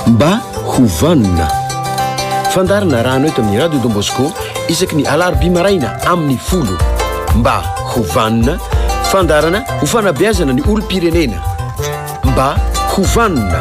Mba ho vanona. Fandaharana rano eto amin'ny Radio Don Bosco isaky ny alarobia maraina amin'ny folo. Mba ho vanona, fandaharana ho fanabeazana ny olom-pirenena. Mba ho vanona.